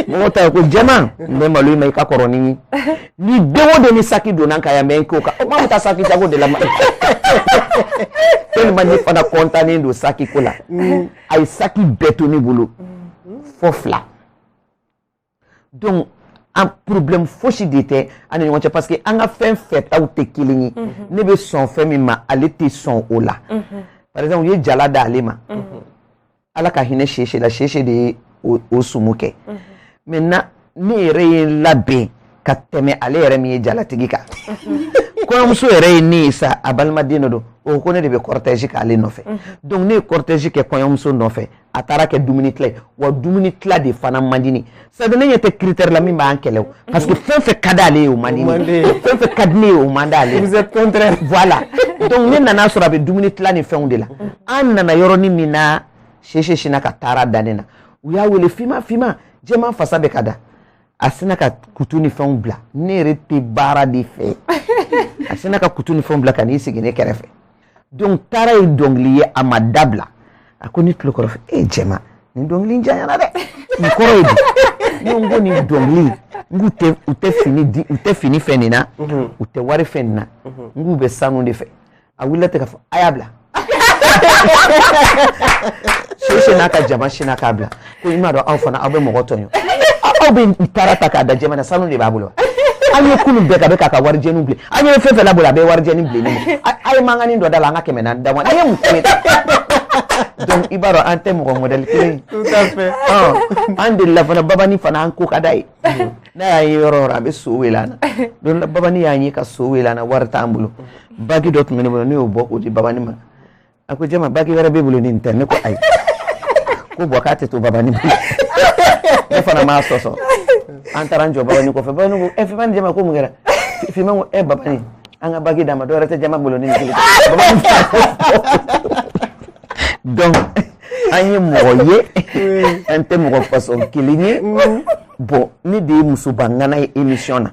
mɔgɔw ta ye ko jɛman n bɛ malo i ma i ka kɔrɔ ni n ye ni den o den ni saki donna n kan yan mɛ n k'o kan o maa bɛ taa saki jago de la ma tellement ne fana kɔntannen don saki ko la a ye saki bɛɛ to ne bolo fo fila. donc an problème fosi de tɛ an ni ɲɔgɔn cɛ parce que an ka fɛn fɛtaw tɛ kelen ye mhm. ne bɛ sɔn fɛn min ma ale tɛ sɔn o la mhm. par exemple u ye jala d'ale ma mhm. ala ka hinɛ sese la sese de ye o sumu kɛ maintenant ne yɛrɛ ye n labɛn ka tɛmɛ ale yɛrɛ min ye jalatigi kan kɔɲɔmuso yɛrɛ ye ne ye sa a balimaden dɔ don o ko ne de bɛ cortège k'ale nɔfɛ donc ne ye cortège kɛ kɔɲɔmuso nɔfɛ a taara kɛ dumuni tila ye wa dumuni tila de fana man di ne c'est à dire ne ɲɛ tɛ critère la min b'an kɛlɛ o parce que fɛn fɛn ka d'ale ye o man di ne fɛn fɛn ka di ne ye o man d'ale vous êtes contraire voilà donc ne nana sɔrɔ a bɛ dumuni tila ni fɛnw de la an nana yɔrɔnin min na sese sinna ka taara da ne na u y'a wele fima fima jɛman fasa bɛ ka da a sinna ka kutu ni fɛnw bila ne yɛrɛ tɛ baara de fɛ a sinna ka kutu ni fɛnw bila ka n'i sigi ne kɛrɛfɛ donc taara ye dɔnkili ye a ma dabila a ko ne tulo kɔrɔ fɛ e jɛman nin dɔnkili janyana dɛ nin kɔrɔ ye di ne ko nin dɔnkili n k'u tɛ u tɛ fini di u tɛ fini fɛ nin na mhm. u tɛ wari fɛ nin na mhm. n k'u bɛ sanu de fɛ a wulila ten k'a fɔ a y'a bila sese n'a ka jama sinna k'a bila ko i m'a dɔn aw fana aw bɛ mɔgɔ tɔɲɔ aw bɛ taara ta k'a da jɛman na sanu de b'a bolo an ye kunun bɛɛ k'a bɛ k'a ka warijɛni bilen an ye fɛn fɛn labolo a bɛ warijɛni bilen ne ma a ye mankanni dɔ da la an ka kɛmɛ naani da an ye mun kɛ donc i b'a dɔn an tɛ mɔgɔ mɔdɛli kelen ye an delila fana babani fana an ko ka d'a ye n'a y'a ye yɔrɔ yɔrɔ a bɛ so wele an na don dɔ babani y'an ye ka so wele an na wari t'an bolo bagi dɔ tun bɛ ne bolo ne y'o bɔ k'o di babani ma a ko jama bagi wɛrɛ b'e bolo nin tɛ ne ko ayi ko bɔn k'a tɛ to babani bolo ne fana m'a sɔsɔ an taara an jɔ babani kɔfɛ babani ko ɛ fima ni jama ko mun kɛra fima ko ɛ babani an ka bagi d'a ma dɔwɛrɛ tɛ jama bolo ni kelen babani donc an ye mɔgɔ ye an tɛ mɔgɔ façon kelen ye bɔn ne de ye musoba ŋana ye émission na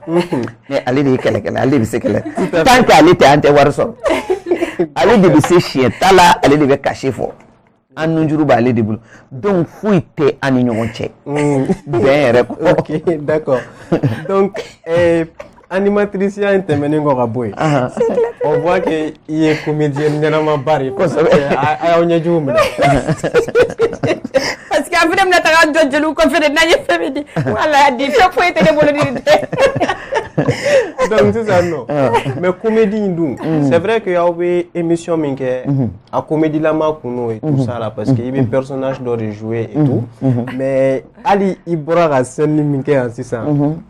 mais ale de ye kɛlɛkɛla ale de bɛ se kɛlɛ tant que ale tɛ an tɛ wari sɔrɔ ale de bɛ se siɲɛ ta la ale de bɛ cachet fɔ an nunjuru b'ale de bolo donc foyi tɛ an ni ɲɔgɔn cɛ bɛn yɛrɛ kɔ. ok d'accord donc. Euh... animatrisiya in tɛmɛnen kɔ ka bɔ yen on voit que i ye comédienne ɲɛnamaba de ye kosɛbɛ a y'aw ɲɛjugu minɛ parce que a fana bɛna taga jɔ jeliw kɔfɛ de n'an ye fɛn min di wala di fɛn foyi tɛ ne bolo ni tɛ donc sisan nɔ mais comédie in dun mm. c'est vrai que aw bɛ émission min kɛ mm-hmm. a comédielama kun n'o ye tout mm-hmm. ça la parce que i bɛ mm-hmm. personnage dɔ de jouer et tout mais hali i bɔra ka scène min kɛ yan sisan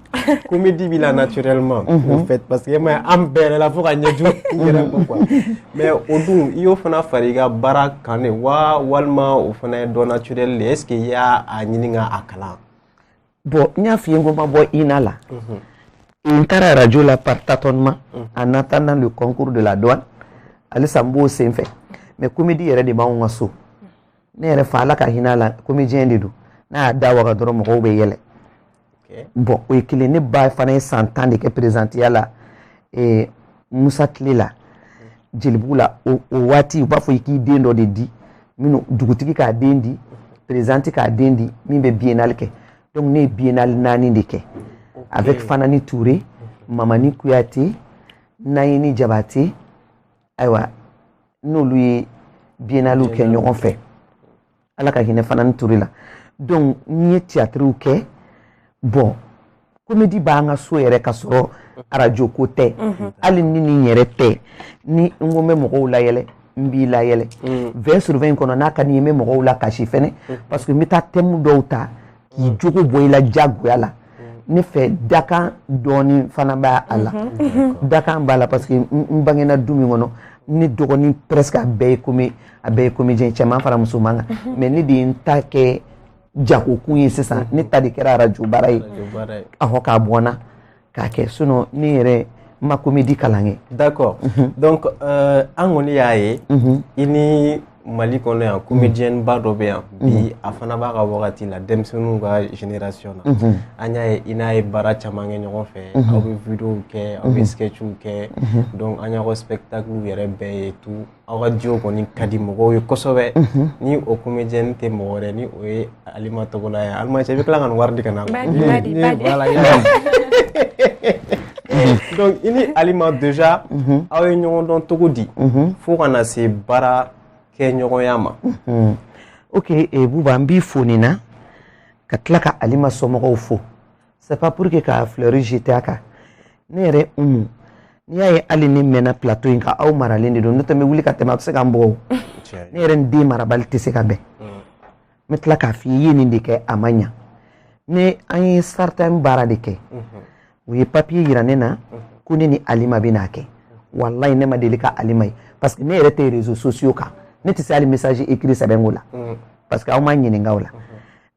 comédie b'i la naturellement mhm. au fait parce que ma an bɛ yɛlɛ la fo ka ɲɛji yɛrɛ ma quoi mais o dun i y'o fana fara i ka baara kan de wa walima o fana ye don naturel de est ce que i y'a a ɲini ka a kalan bon n y'a f'i ye ko n ma bɔ ina la mhm. n taara radio la par tâtonnement mhm. en attendant le concours de la douane halisa n b'o sen fɛ mais comédie yɛrɛ de b'anw ka so ne yɛrɛ fa ala ka hinɛ a la comédien de don n'a y'a da waga dɔrɔn mɔgɔw bɛ yɛlɛ bɔn o ye kelen ne ba fana ye san tan de kɛ perezidantiya la eh, musa tile la jelibugu la o waati u b'a fɔ i k'i den dɔ de di minnu dugutigi k'a den di perezidanti k'a den di min bɛ biennale kɛ donc ne ye biennale naani de kɛ avec fanani ture mamani kuyate nayini jabate ayiwa n'olu ye biennalew kɛ ɲɔgɔn fɛ ala ka hinɛ fanani ture la donc n ye tiyatriw kɛ bɔn komedi b'an ka so yɛrɛ ka sɔrɔ arajo ko tɛ mhm. hali ni nin yɛrɛ tɛ ni n ko n bɛ mɔgɔw layɛlɛ n b'i layɛlɛ vin mm. sur vin kɔnɔ n'a ka di n ye n bɛ mɔgɔw lakasi fɛnɛ mm. parce que n bɛ taa tɛmu dɔw ta k'i jogo bɔ i la diyagoya la ne fɛ dakan dɔɔnin fana b'a a la mhm. dakan b'a la parce que n bangena du min kɔnɔ ne dɔgɔnin presque a bɛɛ ye komi a bɛɛ ye comédien cɛman fara musoman kan mhm. mais ne de ye n ta kɛ jagokun ye sisan mhm. ne ta de kɛra arajo baara ye ahɔ k'a bɔnna k'a kɛ sinɔn ne yɛrɛ ma komedi kalan kɛ d'accord mhm. donc euh, an kɔni y'a ye mhm. i ni mali kɔnɔ yan comédienne ba dɔ bɛ yan mhm. bi a fana b'a ka wagati la denmisɛnninw ka génération na an y'a ye i n'a ye baara caman kɛ ɲɔgɔn fɛ aw bɛ videow kɛ aw bɛ sketchw kɛ donc an y'aw ka spectaclew yɛrɛ bɛɛ ye tout aw ka duo kɔni ka di mɔgɔw ye kosɛbɛ ni o comédienne tɛ mɔgɔ wɛrɛ ni o ye alima togola ye alima cɛ i bɛ tila ka nin wari di ka na donc i ni alima déjà aw ye ɲɔgɔn dɔn cogo di fo ka na se baara kɛ ɲɔgɔnya ma ok eh, buba n b'i fo nin na ka tila ka alima somɔgɔw fo c'est pas pour que ka fleur jeter a kan ne yɛrɛ umu n'i y'a ye hali ne mɛnna plateau in kan a maralen de don n'o tɛ n bɛ wuli ka tɛmɛ a bɛ se ka n bugɔ o ne yɛrɛ ni den marabali tɛ se ka bɛn n bɛ tila k'a f'i ye i ye nin de kɛ a ma ɲa ne an ye certain baara de kɛ u ye papier yira ne na ko ne ni alima bɛn'a kɛ walayi ne ma deli ka alima ye parce que ne yɛrɛ tɛ réseaux sociaux kan ne tɛ se hali message écrit sɛbɛn ko la parce que aw m'a ɲininka o la.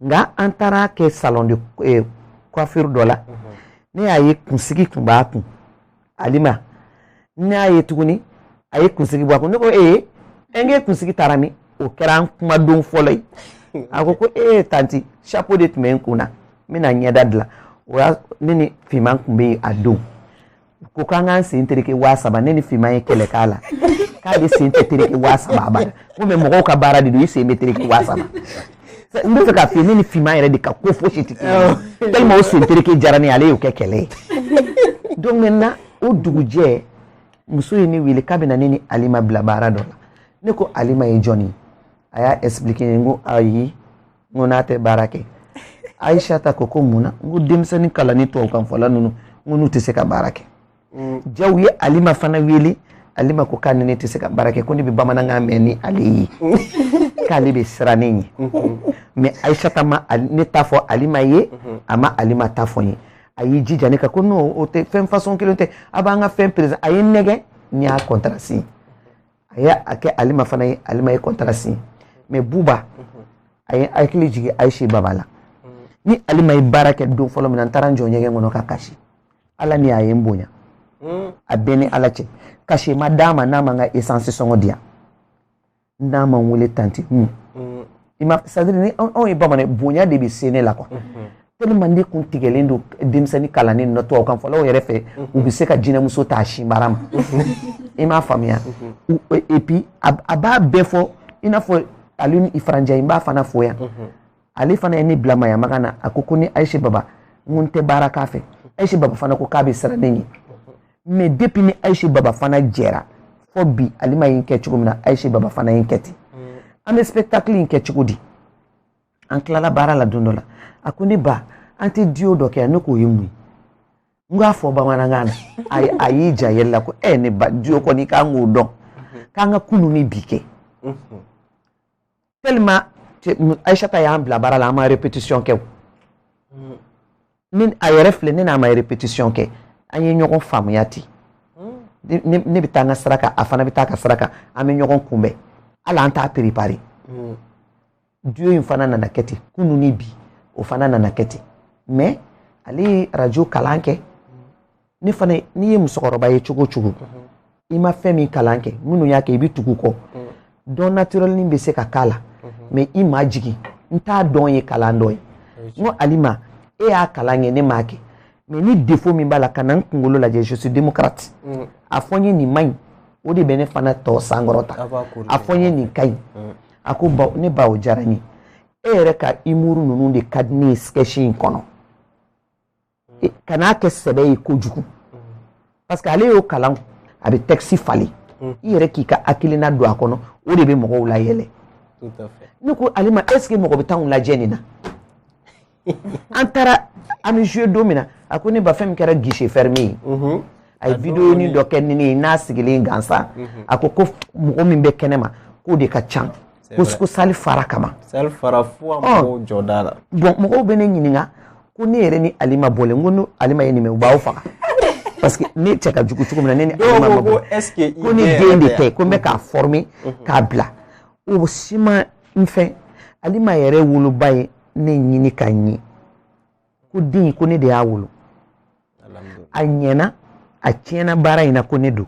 nka an taara kɛ salon de eh, coiffure dɔ la mhm. ne y'a ye kunsigi tun b'a kun alima ne y'a ye tuguni a ye kunsigi bɔ a kun ne ko ee n k'e kunsigi taara min o kɛra an kumadon fɔlɔ ye a ko ko ee tanti chapeau de tun bɛ n kun na n bɛna ɲɛda dilan o y'a ne ni fima tun bɛ yen a don ko k'an k'an sen tereke waa saba ne ni fima ye kɛlɛ k'a la k'ale sen tɛ tereke waa saba abada ko mais mɔgɔw ka baara de don i sen bɛ tereke waa saba n bɛ fɛ k'a f'i ye ne ni fima yɛrɛ de ka ko fosi tɛ kelen tellement o sen tereke diyara ne ye ale y'o kɛ kɛlɛ ye donc maintenant o dugujɛ muso ye ne wele k'a bɛna ne ni alima bila baara dɔ la ne ko alima ye jɔni ye a y'a expliquer n ko ayi n ko n'a tɛ baara kɛ ayisata ko ko mun na n ko denmisɛnnin kalannen tubabukanfɔla ninnu n ko n'u tɛ se ka baara kɛ mm. jaa a ye alima fana wele alima ko k'a ni ne tɛ se ka baara kɛ ko ne bɛ bamanankan mɛn ni ale ye k'ale bɛ siran ne ɲɛ mm-hmm. mais ayisata ma ne ta fɔ alima ye mm-hmm. a ma alima ta fɔ n ye a y'i jija ne kan ko non o tɛ fɛn façon kelen tɛ a b'an ka fɛn perese a ye n nɛgɛn n y'a contrat si a ye a kɛ alima fana ye alima ye contrat signer mais buba a ye n hakili jigin ayise baba la ni alima ye baara kɛ don fɔlɔ min na n taara n jɔ ɲɛgɛn kɔnɔ ka kasi alima ye n bonya a bɛ n ni ala cɛ cachet ma d'a ma n'a ma n ka essence sɔngɔ di yan n'a ma n wele tanti hun c'est-à-dire ni anw ye bamanan bonya de bɛ se ne la quoi tellement ne kun tigɛlen don denmisɛnnin kalannen ninnu na tubabu kan fɔlaw yɛrɛ fɛ u bɛ se ka jinɛmuso ta a sinbara ma i m'a faamuya et puis a b'a bɛɛ fɔ i n'a fɔ Alioune Ifra Ndiaye n b'a fana fo yan ale fana ye ne bila mayamaga na a ko ko ni Ayise Baba n ko n tɛ baara k'a fɛ Ayise Baba fana ko k'a bɛ siran ne ɲɛ mais depuis ni ayise baba fana jɛra fo bi alima ye n kɛ cogo min na ayise baba fana ye n kɛ ten an bɛ spectacle in kɛ cogo di an tilala baara la don dɔ la a ko ne ba an tɛ duo dɔ kɛ ne k'o ye mun ye n k'a fɔ bamanankan na a y'i ja yɛlɛ la ko ɛ eh, ne ba duo kɔni k'an k'o dɔn k'an ka kunu ni bi kɛ tellement Aïssata y'an bila baara la an ma répétition kɛ ni a yɛrɛ filɛ ne n'a ma répétition kɛ an ye ɲɔgɔn faamuya ten ne bɛ taa n ka sira kan a fana bɛ taa ka sira kan an bɛ ɲɔgɔn kunbɛn hali an t'a préparer duo in fana nana kɛ ten kunun ni bi o fana nana kɛ ten mais ale ye radio kalan kɛ ne fana n'i ye musokɔrɔba ye cogo o cogo i ma fɛn min kalan kɛ minnu y'a kɛ i bɛ tugu kɔ don naturel nin bɛ se ka k'a la mais i majigin n t'a dɔn ye kalan dɔ ye n ko alima e y'a kalan kɛ ne m'a kɛ mais ni défaut min b'a la kana n kunkolo lajɛ je suis démocrate mm. a fɔ n ye nin man ɲi o de bɛ ne fana tɔ sankɔrɔta a fɔ n ye nin ka ɲi mm. a ko ba ne ba o diyara n ye e yɛrɛ ka humour ninnu de ka di ne ye sketch in kɔnɔ kana kɛ sɛbɛ ye kojugu parce que ale y'o kalan a bɛ texte falen i yɛrɛ k'i ka hakilina don a kɔnɔ o de bɛ mɔgɔw layɛlɛ ne ko alima est-ce que mɔgɔ bɛ t'anw lajɛ nin na an taara an bɛ jouer don min na a ko ne ba fɛn min kɛra guichet fermé ye mhm. a ye vidéonin dɔ kɛ ni ne ye n'a sigilen gansan mhm. a ko mɔgɔ min bɛ kɛnɛ ma k'o de ka ca ko ko salle fara kaban salle fara fo an mɔgɔw jɔ da la bon mɔgɔw bɛ ne ɲininka ko ne yɛrɛ ni alima bɔlen n ko ni alima ye nin mɛn u b'aw faga parce que ne cɛ ka jugu cogo min na ne ni alima ma bɔ ko ne den de tɛ ko n bɛ k'a former k'a bila o si ma n fɛ alima yɛrɛ woloba ye ne ɲini ka ɲɛ ko den ko ne de y'a wolo a ɲɛna a tiɲɛna baara in na ko ne don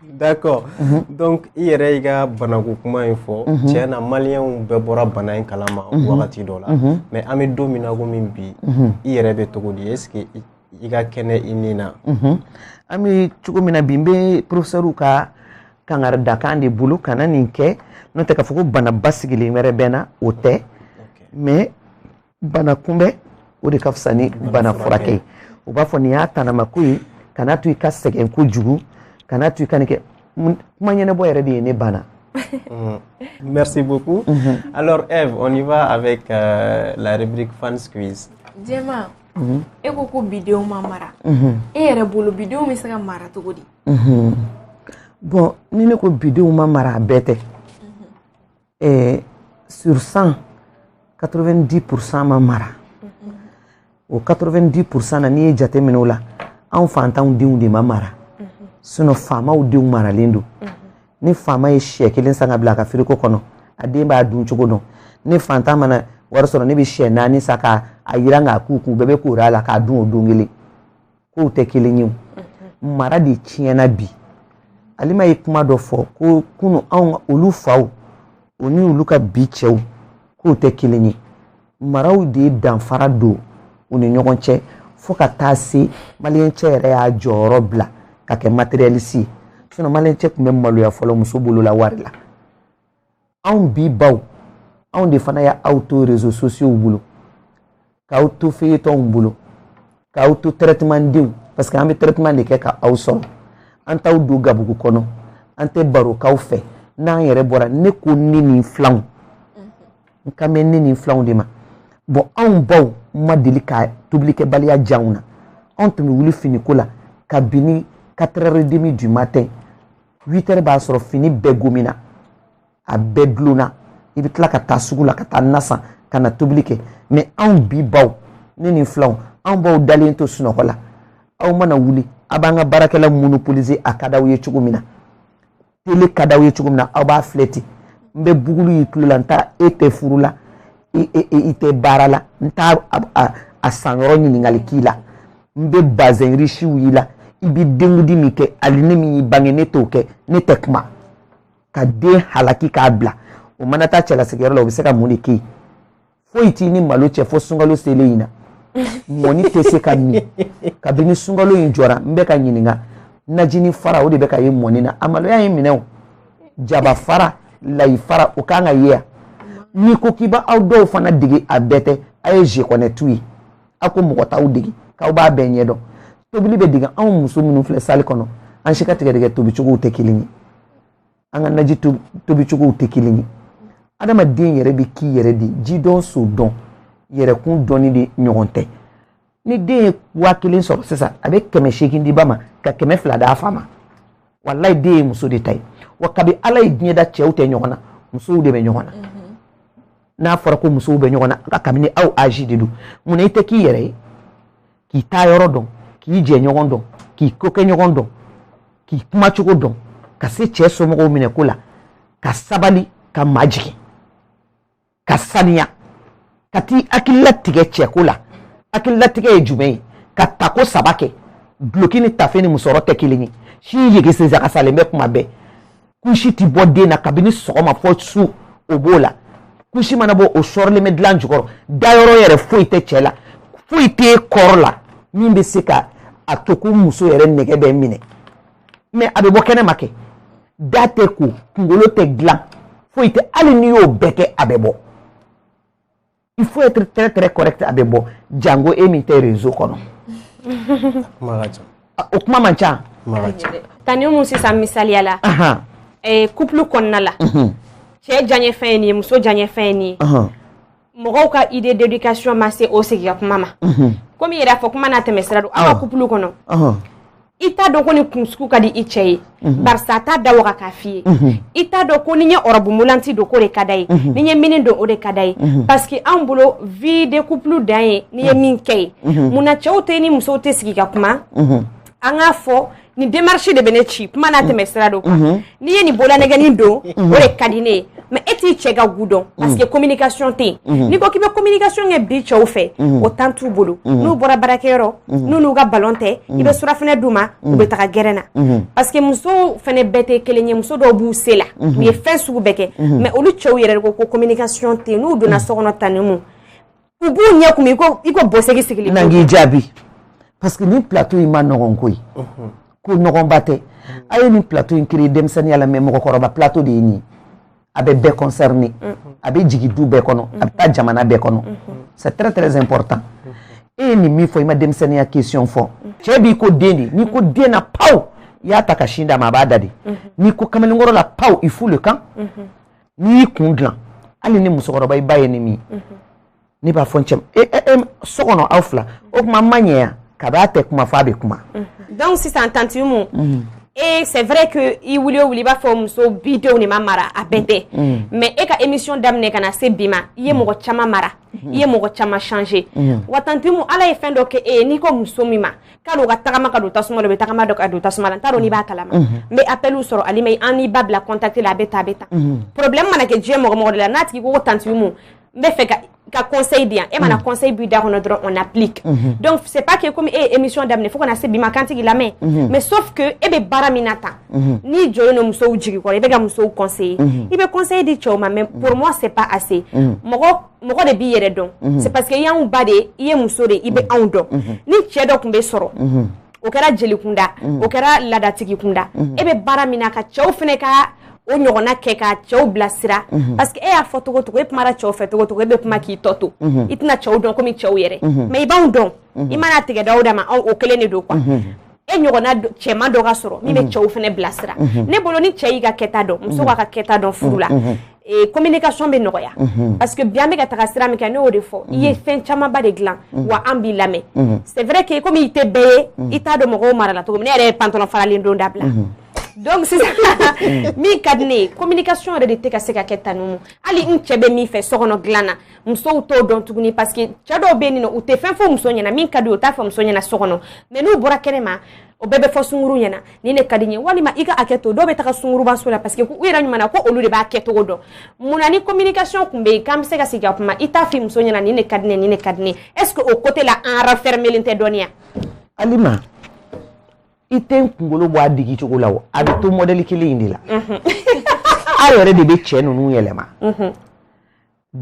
D'accord mhm. donc i yɛrɛ y'i ka banako kuma in fɔ mhm. tiɲɛ na maliyɛnw bɛɛ bɔra bana in kalama mhm. wagati dɔ la mais an bɛ don min na komi bi i yɛrɛ bɛ cogo di est-ce que i ka kɛnɛ i ni na an bɛ cogo min na bi n bɛ professeur ka kangaridakan de bolo kana nin kɛ n'o tɛ k'a fɔ ko bana basigilen wɛrɛ bɛ n na o tɛ mais bana kunbɛn o de ka fisa ni bana furakɛ ye u b'a fɔ nin y'a tanamako ye kana to i ka sɛgɛn kojugu kana to i ka nin kɛ kuma ɲɛnabɔ yɛrɛ de ye ne bana mm. Merci beaucoup. Mm -hmm. Alors Eve, on y va avec euh, la rubrique Fans Quiz. Djema, mm -hmm. e ko ko bidenw ma mara. Mm -hmm. E yɛrɛ bolo bidenw bɛ se ka mara cogo di? Mm -hmm. Bon, ni ne ko bidenw ma mara a bɛɛ tɛ. eh, sur 100 90% ma mara o 90% na n'i ye jate minɛ o la anw fantanw denw de ma mara sinon faamaw denw maralen don ni faama ye siyɛ kelen san ka bila a ka firigo kɔnɔ a den b'a dun cogo dɔn ni fantan mana wari sɔrɔ ne bɛ siyɛ naani san ka a yiran k'a k'u kun bɛɛ bɛ koori a la k'a dun o don kelen k'o tɛ kelen ye mara de tiɲɛna bi alima ye kuma dɔ fɔ ko kunu anw olu faw o ni olu ka bi cɛw k'u tɛ kelen ye maraw de danfara don u ni ɲɔgɔn cɛ fo ka taa se maliyɛn cɛ yɛrɛ y'a jɔyɔrɔ bila ka kɛ matérialiste ye sinon maliyɛn cɛ tun bɛ maloya fɔlɔ muso bolo la wari la anw bi baw anw de fana y'aw to réseaux sociaux bolo k'aw to feyetɔnw bolo k'aw to traitement denw parce que an bɛ traitement de kɛ k'aw sɔrɔ an t'aw don gabugu kɔnɔ an tɛ baro k'aw fɛ n'an yɛrɛ bɔra ne ko ne ni n filanw n kan bɛ ne ni n filanw de ma bon anw baw ma deli ka tobilikɛbaliya jira anw na anw tun bɛ wuli finiko la kabini 4 heures et demi du matin 8 heures b'a sɔrɔ fini bɛɛ gomina a bɛɛ dulonna i bɛ tila ka taa sugu la ka taa na san ka na tobili kɛ mais anw bi baw ne ni filanw anw b'aw dalen to sunɔgɔ la aw mana wuli a b'an ka baarakɛla monopoliser a ka d'aw ye cogo min na tele ka d'aw ye cogo min na aw b'a filɛ ten n bɛ boucle y'i tulo la n t'a e tɛ furu la i tɛ baara la n t'a san yɔrɔ ɲininkali k'i la n bɛ bazɛn risiw y'i la i bɛ denkundi min kɛ ali ne min y'i bange ne t'o kɛ ne tɛ kuma ka den halaki k'a bila o mana taa cɛlasigiyɔrɔ la o bɛ se ka mun de kɛ yen foyi t'i ni malo cɛ fo sunkalo selen in na mɔni tɛ se ka min kabini sunkalo in jɔra n bɛ ka ɲininka najini fara o de bɛ ka ye mɔni na a maloya ye n minɛ o jaba fara layi fara o kan ka ye yan n'i ko k'i b'aw dɔw fana dege a bɛɛ tɛ a ye je connais tout ye aw ko mɔgɔ t'aw dege k'aw b'a bɛɛ ɲɛdɔn tobili bɛ dege anw muso minnu filɛ sali kɔnɔ an si ka tigɛdɛgɛ tobicogow tɛ kelen ye an ka naji tobicogow tɛ kelen ye adamaden yɛrɛ bɛ k'i yɛrɛ de ji dɔn so dɔn yɛrɛkun dɔnni de ɲɔgɔn tɛ ni den ye waa kelen sɔrɔ sisan a bɛ kɛmɛ seegin di ba ma ka kɛmɛ fila d'a fa ma walayi den ye muso de ta ye wa kabi ala ye diɲɛ da cɛw tɛ ɲɔgɔn na musow de bɛ ɲɔgɔn na n'a fɔra ko musow bɛ ɲɔgɔn na kabini aw âge de don munna i tɛ k'i yɛrɛ ye k'i taa yɔrɔ dɔn k'i jɛɲɔgɔn dɔn k'i kokɛɲɔgɔn dɔn k'i kuma cogo dɔn ka se cɛ somɔgɔw minɛ ko la ka sabali ka majigin ka saniya ka t'i hakili latigɛ cɛko la hakililatigɛ ye jumɛn ye ka tako saba kɛ duloki ni tafe ni musɔrɔ tɛ kelen ye si yege sensakasalen bɛ kuma bɛɛ kusi tɛ bɔ den na kabini sɔgɔma fɔ su o b'o la kusi mana bɔ o sɔrɔlen bɛ dilan jukɔrɔ dayɔrɔ yɛrɛ foyi tɛ cɛ la foyi tɛ kɔrɔ la min bɛ se ka a to ko muso yɛrɛ nɛgɛ bɛ minɛ mais a bɛ bɔ kɛnɛ ma kɛ da tɛ ko kunkolo tɛ dilan foyi tɛ hali n'i y'o bɛɛ kɛ a bɛ bɔ il faut être très très correct a bɛ bɔ jango e min tɛ réseau kɔnɔ o kuma man ca tanti Umu sisan misaliya la couple kɔnɔna la cɛ diyaɲɛ fɛn ye nin ye muso diyaɲɛ fɛn ye nin ye mɔgɔw ka idée d'éducation ma se o sigi ka kuma ma komi i yɛrɛ y'a fɔ kuma n'a tɛmɛ sira don aw ka couple kɔnɔ i t'a dɔn ko nin kun sugu ka di i cɛ ye mhm. barisa a t'a da waga k'a f'i ye mhm. i t'a dɔn ko ni n ye robe moulante don k'o de ka d'a ye mhm. ni n ye mini don o de ka d'a ye parce que anw bolo vie de couple dan ye n'i ye min kɛ ye mun na cɛw tɛ ni musow tɛ sigi ka kuma an k'a fɔ nin démarche de bɛ ne ci kuma n'a tɛmɛ sira don kan n'i ye nin bololanɛgɛnin don o de ka di ne ye mais e t'i cɛ ka goût dɔn parce que communication tɛ yen n'i ko k'i bɛ communication kɛ bi cɛw fɛ o temps t'u bolo n'u bɔra baarakɛyɔrɔ n'u n'u ka ballon tɛ i bɛ surafana d'u ma u bɛ taga gɛrɛn na parce que musow fana bɛɛ tɛ kelen ye muso dɔw b'u se la u ye fɛn sugu bɛɛ kɛ mais olu cɛw yɛrɛ ko ko communication tɛ yen n'u donna so kɔnɔ tanti Umu u b'u ɲɛ kumu i ko i ko bɔsegin sigilen na k'i jaabi parce que nin plateau in man nɔgɔn koyi ko nɔgɔnba tɛ a ye nin plateau in créer denmisɛnninya la mais mɔgɔkɔrɔba plateau de ye nin ye a bɛ bɛɛ concerné a bɛ jigin du bɛɛ kɔnɔ a bɛ taa jamana bɛɛ kɔnɔ c'est très très important e ye nin min fɔ i ma denmisɛnninya question fɔ cɛ b'i ko den de n'i ko den na paw i y'a ta ka sin d'a ma a b'a da de n'i ko kamalenkɔrɔ la paw il fout le camp n'i y'i kun dilan hali ne musokɔrɔba i b'a ye ne min ye ne b'a fɔ n cɛ e, e, e, so kɔnɔ aw fila o tuma ma ɲɛ yan ka b'a tɛ kuma f'a bɛ kuma. donc sisan tanti umu. et c'est vrai que i wuli o wuli i b'a fɔ muso bi denw de ma mara a bɛɛ tɛ mais e ka émission daminɛ ka na se bi ma i ye mɔgɔ caman mara i ye mɔgɔ caman changer wa tanti umu ala ye fɛn dɔ kɛ e ye n'i ko muso min ma k'a dɔn u ka tagama ka don tasuma la u bɛ tagama dɔ ka don tasuma la n t'a dɔn n'i b'a kalama n bɛ appeliw sɔrɔ alima an n'i ba bila contact la a bɛ ta a bɛ ta problème mana kɛ diɲɛ mɔgɔ mɔgɔ de la n'a tigi ko ko tanti Umu n bɛ fɛ ka ka conseil di yan e mana conseil b'i da kɔnɔ dɔrɔn on applique donc c'est pas que comme e ye émission daminɛ fo ka na se bi ma k'an tɛ k'i lamɛn mais sauf que e bɛ baara min na tan n'i jɔlen don musow jigi kɔrɔ i bɛ ka musow conseiller i bɛ conseil di cɛw ma mais pour moi c'est pas assez mɔgɔ mɔgɔ de b'i yɛrɛ dɔn mhm. c'est parce que i y'anw ba de ye i ye muso de i bɛ mhm. anw dɔn mhm. ni cɛ dɔ tun bɛ sɔrɔ o kɛra jeli kunda o kɛra laadatigi kunda e bɛ baara min na ka cɛw fana ka o ɲɔgɔnna kɛ ka cɛw bilasira parce que e y'a fɔ cogo o cogo e kumara cɛw fɛ cogo o cogo e bɛ kuma k'i tɔ to i tɛna cɛw dɔn komi cɛw yɛrɛ mais i b'anw dɔn i mana tigɛdaw da ma anw o kelen de don quoi e ɲɔgɔnna cɛman dɔ ka sɔrɔ min bɛ mhm. cɛw fana bila sira mhm. ne bolo ni cɛ y'i ka kɛta dɔn muso b'a mhm. ka kɛta dɔn furu la communication bɛ nɔgɔya parce que bi an bɛ ka taga sira min kɛ ne y'o de fɔ i ye fɛn camanba de dilan wa an b'i lamɛn c'est vrai que komi i tɛ bɛɛ ye i t'a dɔn mɔgɔw marala cogo min ne yɛrɛ ye pantalon faralen don dabila donc sisan min ka di ne ye communication yɛrɛ de tɛ ka se ka kɛ tanu hali n cɛ bɛ min fɛ so kɔnɔ dilan na musow t'o dɔn tuguni parce que cɛ dɔw bɛ nin nɔ u tɛ fɛn fɔ muso ɲɛna min ka di u t'a fɔ muso ɲɛna so kɔnɔ mais n'u bɔra kɛnɛ ma o bɛɛ bɛ fɔ sunguru ɲɛna nin de ka di n ye walima i ka hakɛ to dɔw bɛ taga sunguruba so la parce que u yɛrɛ ɲuman na ko olu de b'a kɛcogo dɔn mun na ni communication tun bɛ yen k'an bɛ se ka sigi ka kuma i t'a f'i muso ɲɛna nin de ka di n ye nin de ka di n ye est ce que o côté la an renfermélen tɛ dɔɔnin wa alima i tɛ n kunkolo bɔ a digi cogo la o a bɛ to modèle kelen in de la aw yɛrɛ de bɛ cɛ ninnu yɛlɛma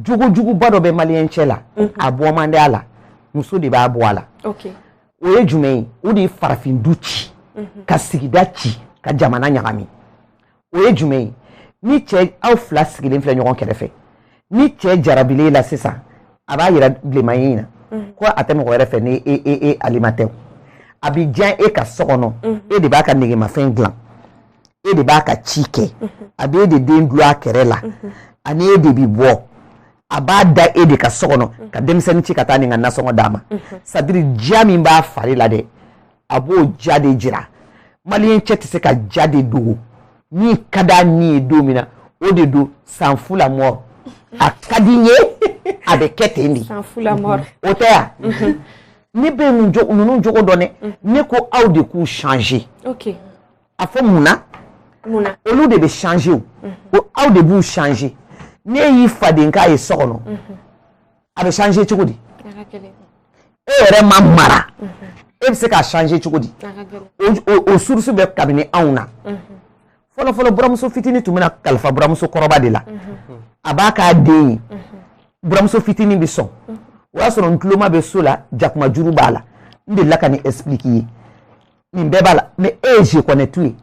jogo juguba dɔ bɛ maliyɛn cɛ la mhm. a bɔ man di a la muso de b'a bɔ a la o ye jumɛn ye o de ye farafin du ci mhm. ka sigida ci ka jamana ɲagami o ye jumɛn ye ni cɛ aw fila sigilen filɛ ɲɔgɔn kɛrɛfɛ ni cɛ jarabila e la sisan a b'a yira vraiment i na mhm. ko a tɛ mɔgɔ wɛrɛ fɛ ni e e e alima tɛ a bɛ diya e ka so kɔnɔ e de b'a ka negemafɛn dilan e de b'a ka ci kɛ a bɛ e de den dulon a kɛrɛ la ani e de bɛ bɔ a b'a da e de ka so kɔnɔ ka denmisɛnnin ci ka taa nin ka nasɔngɔ d'a ma c'est-à-dire diya min b'a fari la dɛ a b'o diya de jira maliyɛn cɛ tɛ se ka diya de dogo min ka d'a ni ye don min na o de don s'en fout la mort a ka di n ye a bɛ kɛ ten de s'en fout la mort o tɛ yan ne bɛ ninnu jogo dɔn dɛ ne ko aw de k'u changer. Okay. a fɔ mun na olu de bɛ changer o ko aw de b'u changer ne y'i faden k'a ye so kɔnɔ a bɛ changer cogo di e yɛrɛ ma mara e bɛ se k'a changer cogo di o source bɛ kabini anw na fɔlɔfɔlɔ buramuso fitinin tun bɛ na kalifa buramuso kɔrɔba de la a b'a k'a den ye buramuso fitinin bɛ sɔn o y'a sɔrɔ ntuloma bɛ so la jakuma juru b'a la n delila ka nin expliquer i ye nin bɛɛ b'a la mais e ye je connais tout ye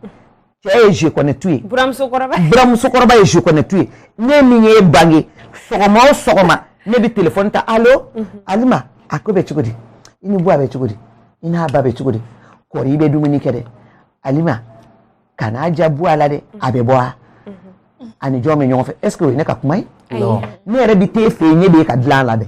cɛ ye je connais tout ye buramuso kɔrɔba ye je connais tout ye ne min y'e bange sɔgɔma o sɔgɔma ne bɛ telefɔni ta alo mhm. alima a ko bɛ cogo di i ni buwa bɛ cogo di i n'a ba bɛ cogo di kɔri i bɛ dumuni kɛ dɛ alima kana ja bɔ a la dɛ a bɛ bɔ a mhm. ani jɔn bɛ ɲɔgɔn fɛ est ce que o ye ne ka kuma ye ne yɛrɛ bɛ t'e fɛ yen ne bɛ ka dilan a la dɛ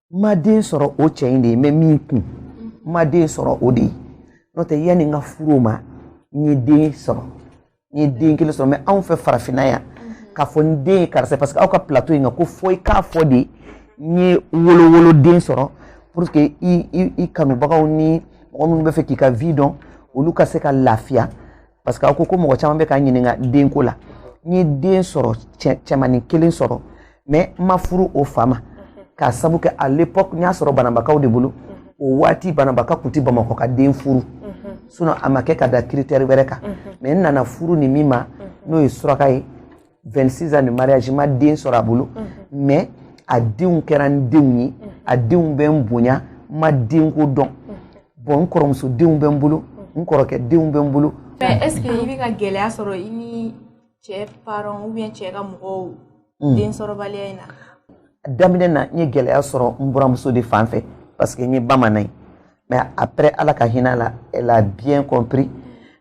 n ma den sɔrɔ o cɛ in de ye n bɛ min kun n ma den sɔrɔ o de ye n'o tɛ yanni n ka furu o ma n ye den sɔrɔ n ye den kelen sɔrɔ mais anw fɛ farafinna yan k'a fɔ n den ye karisa parce que aw ka plateau in kan ko fo i k'a fɔ dɛ n ye wolowoloden sɔrɔ pour que i i i kanubagaw ni mɔgɔ minnu bɛ fɛ k'i ka vie dɔn olu ka se ka lafiya parce que aw ko ko mɔgɔ caman bɛ ka ɲininka denko la n ye den sɔrɔ cɛmanin kelen sɔrɔ mais n ma furu o fa ma k'a sabu kɛ à l'époque n y'a sɔrɔ bananbakaw de bolo o waati bananbaka tun tɛ bamakɔka den furu sinon a ma kɛ ka da critère wɛrɛ kan mais n nana furu ni min ma n'o ye suraka ye 26 ans de mariage n ma den sɔrɔ a bolo mais a denw kɛra n denw ye a denw bɛ n bonya n ma denko dɔn bon n kɔrɔmuso denw bɛ n bolo n kɔrɔkɛ denw bɛ n bolo mais est ce que i bɛ ka gɛlɛya sɔrɔ i ni cɛ parents ou bien cɛ ka mɔgɔw hmm. den sɔrɔbaliya in na daminɛ na n ye gɛlɛya sɔrɔ n buramuso de fan fɛ parce que n ye bamanan ye mais après ala ka hinɛ la elle a bien compris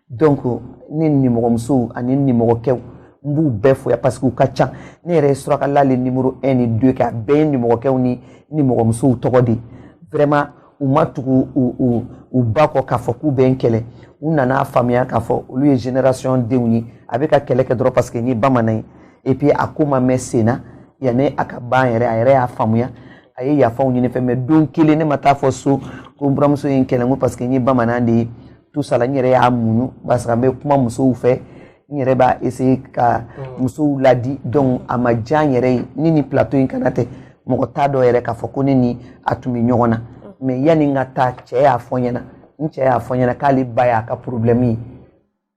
donc ne nimɔgɔmusow ani nimɔgɔkɛw n b'u bɛɛ fo yan parce que u ka ca ne yɛrɛ ye surakala le numéro 1 ni 2 kɛ a bɛɛ ye nimɔgɔkɛw ni nimɔgɔmusow tɔgɔ de vraiment u ma tugu u u u ba kɔ k'a fɔ k'u bɛ n kɛlɛ u nana faamuya k'a fɔ olu ye génération denw ye a bɛ ka kɛlɛ kɛ dɔrɔn parce que n ye bamanan ye et puis a ko ma mɛn sen na yanni a ka ban yɛrɛ a yɛrɛ y'a faamuya a ye yafaw ɲini n fɛ mais don kelen ne ma taa fɔ so ko n buramuso ye n kɛlɛ n ko parce que n ye bamanan de ye tout ça là n yɛrɛ y'a muɲu parce que n bɛ kuma musow fɛ n yɛrɛ b'a essayer ka mm. musow ladi donc a ma diya n yɛrɛ ye ni nin plateau in kanna tɛ mɔgɔ t'a dɔn yɛrɛ k'a fɔ ko ne ni a tun bɛ ɲɔgɔn na mm. mais yanni n ka taa cɛ y'a fɔ n ɲɛna n cɛ y'a fɔ n ɲɛna k'ale ba y'a ka problème ye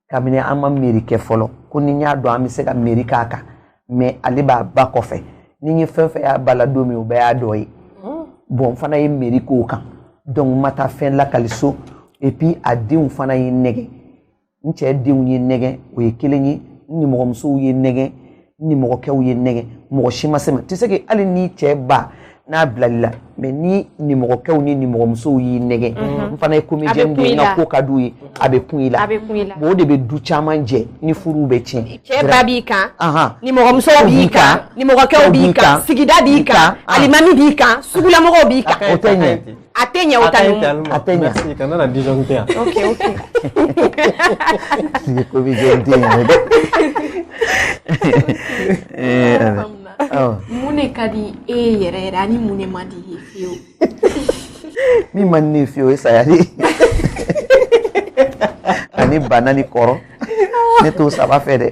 kabini an ma mairie kɛ fɔlɔ ko ni n y'a dɔn an bɛ se ka mairie k'a kan mais ale b'a ba kɔfɛ ni n ye fɛn fɛn y'a ba la don min o bɛɛ y'a dɔ ye mm. bon n fana ye mairie k'o kan donc n ma taa fɛn lakali so et puis a denw fana ye n nɛgɛ n cɛ denw ye n nɛgɛ o ye kelen ye n nimɔgɔmusow ye n nɛgɛ nimɔgɔkɛw ye n nɛgɛ mɔgɔ si ma se n ma tu sais que hali n'i cɛ ba n'a bilal'i la mais ni nimɔgɔkɛw ni nimɔgɔmusow y'i nɛgɛ n fana ye comédienne de ye n ka ko ka d'u ye a bɛ kun i la bon o de bɛ du caman jɛ ni furuw bɛ tiɲɛ cɛ ba b'i kan nimɔgɔmuso b'i kan nimɔgɔkɛw b'i kan sigida b'i kan alimami b'i kan sugulamɔgɔw b'i kan o tɛ ɲɛ A tɛ ɲɛ o ta nin ma. A tɛ ɲɛ. Merci kana na disjoncter yan. Ok ok. Sigi ko bi disjoncter yen dɛ. Ee awɔ. Mun de ka di e ye yɛrɛ yɛrɛ ani mun de man di i ye fiyewu? Min man di ne ye fiyewu o ye saya de ye. Ani bana ni kɔrɔ ne t'o saba fɛ dɛ.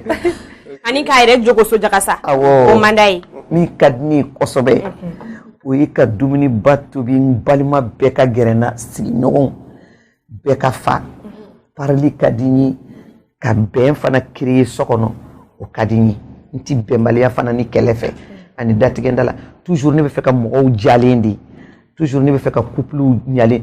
Ani k'a yɛrɛ jogo sojakasa. Awɔ. O man d'a ye. Min ka di ne ye kosɛbɛ. o ye ka dumuniba tobi n balima bɛɛ ka gɛrɛ n na sigiɲɔgɔnw bɛɛ ka fa parili ka di n ye ka bɛn fana créer so kɔnɔ o ka di n ye n ti bɛnbaliya fana ni kɛlɛ fɛ ani datigɛnda la toujours ne bɛ fɛ ka mɔgɔw jalen de toujours ne bɛ fɛ ka couplew ɲalen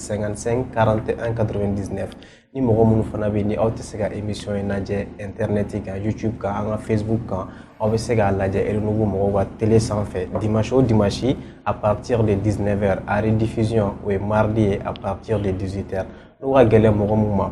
55 41 99 ni mɔgɔ minnu fana bɛ ni aw tɛ se ka emission in lajɛ internet kan youtube kan an ka facebook kan aw bɛ se k'a lajɛ Renouveau mɔgɔw ka tele sanfɛ dimanche o dimanche à partir de 19 heures a rediffusion o ye mardi ye à partir de 18 heures n'o ka gɛlɛn mɔgɔ min ma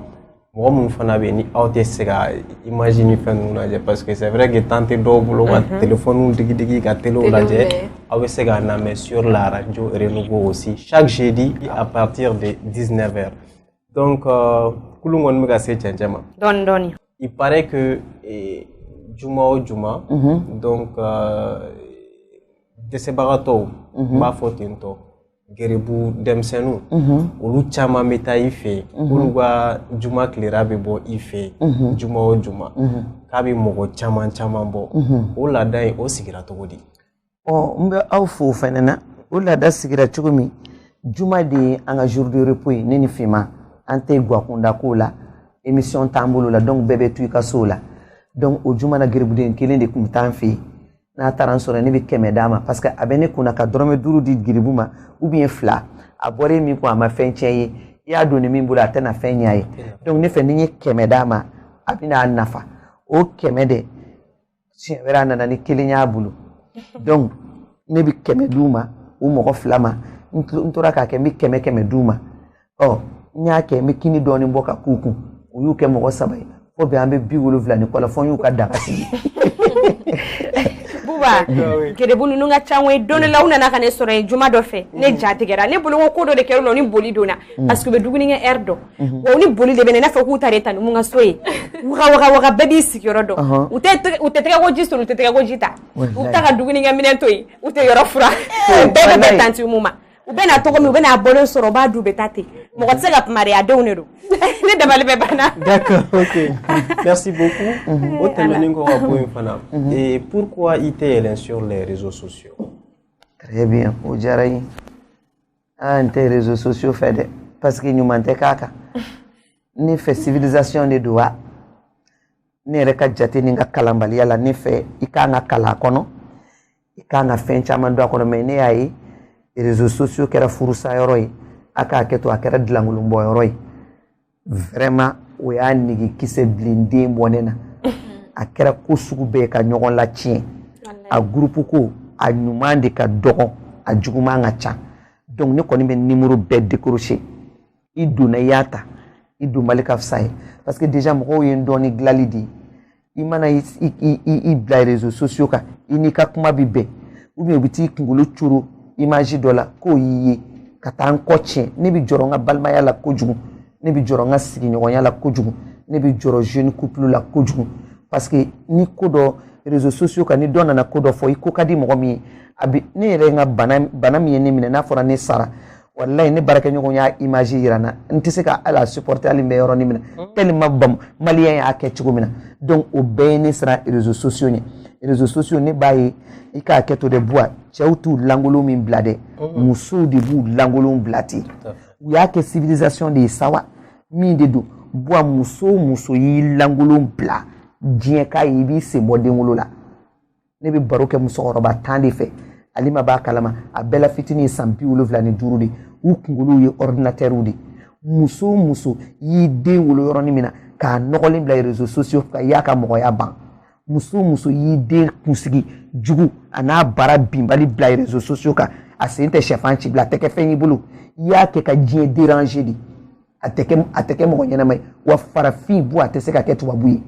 mɔgɔ minnu fana bɛ yen ni aw tɛ se ka imaji ni fɛn ninnu lajɛ parce que c'est vrai que temps tɛ dɔw bolo ka mhm. telefɔniw digidigi ka telew lajɛ aw bɛ se k'an lamɛn sur la radio Renouveau aussi chaque jeudi à partir de 19 heures donc euh, kurun kɔni bɛ ka se cɛncɛn ma dɔɔni dɔɔni il paraît que eh, juma o juma mhm. donc euh, dɛsɛbagatɔw n mhm. b'a fɔ ten tɔ geribu denmisɛnninw mhm. olu caman bɛ taa i fɛ yen mhm. olu ka juma tilera bɛ bɔ i fɛ yen mhm. juma o juma k'a bɛ mɔgɔ caman caman bɔ o laada in o sigira cogo di ɔ n bɛ aw fo o fana na o laada sigira cogo min juma de ye an ka jour de repos ye ne ni Fima an tɛ guwakunda ko la émission t'an bolo la donc bɛɛ bɛ to i ka so la donc o juma na geribuden kelen de tun bɛ taa an fɛ yen n'a taara n sɔrɔ ne bɛ kɛmɛ d'a ma parce que a bɛ ne kunna ka dɔrɔmɛ duuru di geribu ma ou bien fila a bɔra e min kun a ma fɛn tiɲɛ ye i y'a don ni min bolo a tɛna fɛn ɲɛ ye donc ne fɛ ni n ye kɛmɛ d'a ma a bɛna a nafa o kɛmɛ de siɲɛ wɛrɛ a nana ni kelen y'a bolo donc ne bɛ kɛmɛ d'u ma u mɔgɔ fila ma n tora k'a kɛ n bɛ kɛmɛ kɛmɛ d'u ma ɔ n y'a kɛ n bɛ kini dɔɔnin bɔ ka k'u kun u y'u kɛ mɔgɔ saba ye fo bi an bɛ bi wolonwula ni kɔ la fo n y'u ka daga sigi Buba gerebu ninnu ka ca koyi don dɔ la u nana ka ne sɔrɔ yen juma dɔ fɛ ne ja tigɛra ne bolo ko ko dɔ de kɛra u la u ni boli donna parce que u bɛ dumuni kɛ heure dɔn wa u ni boli de bɛ na i n'a fɔ k'u ta de tanti mun ka so ye waga waga waga bɛɛ b'i sigiyɔrɔ dɔn u tɛ tɛgɛ u tɛ tɛgɛko ji soli u tɛ tɛgɛko ji ta u bɛ taa ka dumunikɛminɛn to yen u tɛ yɔrɔ furan bɛɛ bɛ bɛn tanti mun ma u bɛ na cogo min u bɛ n'a bɔlen sɔrɔ u b'a dun u bɛ taa ten mɔgɔ tɛ se ka kuma n yɛrɛ denw de don ne dabali bɛɛ banna merci beaucoup mhm. o tɛmɛnen kɔ ka bɔ yen fana mhm. eh, pourquoi i tɛ yɛlɛn sur les réseaux sociaux très bien o diyara n ye aa n tɛ réseaux sociaux fɛ dɛ parce que ɲuman tɛ k'a kan ne fɛ civilisation de don wa ne yɛrɛ ka jate ni n ka kalanbaliya la ne fɛ i k'an ka kalan kɔnɔ i kan ka fɛn caman don a kɔnɔ mais ne y'a ye réseaux sociaux kɛra furusa yɔrɔ ye a k'a kɛ to a kɛra dilankolon bɔ yɔrɔ ye vraiment o y'a nege kisɛ bilen den bɔ ne na a kɛra ko sugu bɛɛ ka ɲɔgɔn latiɲɛ a gurupu ko a ɲuman de ka dɔgɔ a juguman ka ca donc ne kɔni bɛ nimoro bɛɛ décrocher i donna i y'a ta i dɔnbali ka fisa n ye parce que déjà mɔgɔw ye n dɔn ni dilali de ye i mana i i i bila réseaux sociaux kan i n'i ka kuma bɛ bɛn ou bien u bɛ t'i kunkolo coro image dɔ la k'o y'i ye ka taa n kɔ tiɲɛ ne bɛ jɔrɔ n ka balimaya la kojugu ne bɛ jɔrɔ n ka sigiɲɔgɔnya la kojugu ne bɛ jɔrɔ jeune couple la kojugu parce que ni ko dɔ réseaux sociaux kan ni dɔ nana ko dɔ fɔ i ko ka di mɔgɔ min ye a bɛ ne yɛrɛ ka bana bana min ye ne minɛ n'a fɔra ne sara wallahi ne baarakɛɲɔgɔn y'a image yira n na n tɛ se ka hali a supporter hali n bɛ yɔrɔnin min na tellement bam maliyɛn y'a kɛ cogo min na donc o bɛɛ ye ne siran réseaux sociaux ɲɛ réseaux sociaux ne b'a ye i k'a kɛ to dɛ buwa cɛw t'u lankolon min bila dɛ musow de b'u lankolon bila ten u y'a kɛ civilisation de ye sawa min de don buwa muso o muso y'i lankolon bila diɲɛ k'a ye i b'i sen bɔ denwolo la ne bɛ baro kɛ musokɔrɔba tan de fɛ ale ma b'a kalama a bɛɛ la fitinin ye san bi wolonwula ni duuru de u kunkolow ye ɔridinatɛriw de muso o muso y'i den wolo yɔrɔnin min na k'a nɔgɔlen bila rezo sosiyo kan i y'a ka mɔgɔya ban muso o muso y'i den kunsigi jugu a n'a bara binbali bila rezo sosiyo kan a sen tɛ sɛfan ci bila a tɛ kɛ fɛn y'i bolo i y'a kɛ ka diɲɛ deranze de a tɛ kɛ a tɛ kɛ mɔgɔ ɲɛnama ye wa farafin buwa tɛ se ka kɛ tubabu ye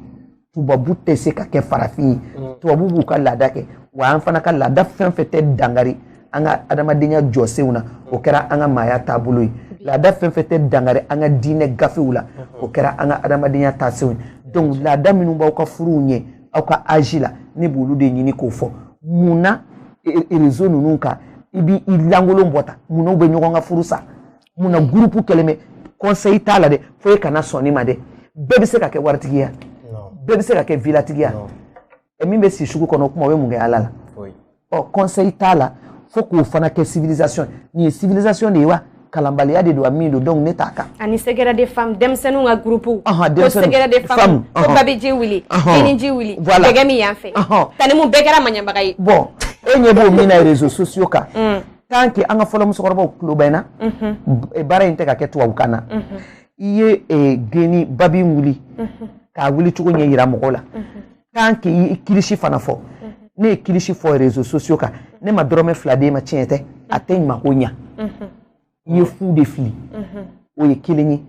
tubabu tɛ se ka kɛ farafin ye mm. tubabu b'u ka laada kɛ wa an fana ka laada fɛn o fɛn tɛ dankari an ka adamadenya jɔsenw na o kɛra an ka maaya taabolo ye laada fɛn o fɛn tɛ dankari an ka diinɛ gafew la mm-hmm. o kɛra an ka adamadenya taasenw ye donc laada minnu b'aw ka furuw ɲɛ aw ka âge la ne b'olu de ɲini k'o fɔ mun na e, e, rezo ninnu kan i b'i lankolon bɔ tan mun na u bɛ ɲɔgɔn ka furu sa mun na gurupu kɛlen bɛ kɔnseyi t'a la dɛ fo e kana sɔn ne ma dɛ bɛɛ bɛ se ka kɛ waritigi ye bɛɛ bɛ se ka kɛ vilatigi ye min bɛ si sugu kɔnɔ o kuma o bɛ mun kɛ ala la ɔ kɔnseyi t'a la fo k'o fana kɛ civilisation nin ye civilisation de ye wa kalanbaliya de don a min don donc ne t'a kan ani secret de femme denmisɛnninw ka gurupu ko secret de femme ko babiji wuli geniji wuli dɛgɛ min yan fɛ tanimu bɛɛ kɛra maɲabaga ye bon e ɲɛ b'o min na réseaux sociaux kan mm. tant que an ka fɔlɔ musokɔrɔbaw tulo bɛ na baara in tɛ ka kɛ tubabukan na i ye eh, geni babi wuli k'a wuli cogo ɲɛ yira mɔgɔw la tant que i kilisi fana fɔ n'e ye kilisi fɔ réseaux sociaux kan ne ma dɔrɔmɛ fila d'e ma tiɲɛ tɛ a tɛ ɲuman ko ɲa i ye fu de fili o ye kelen ye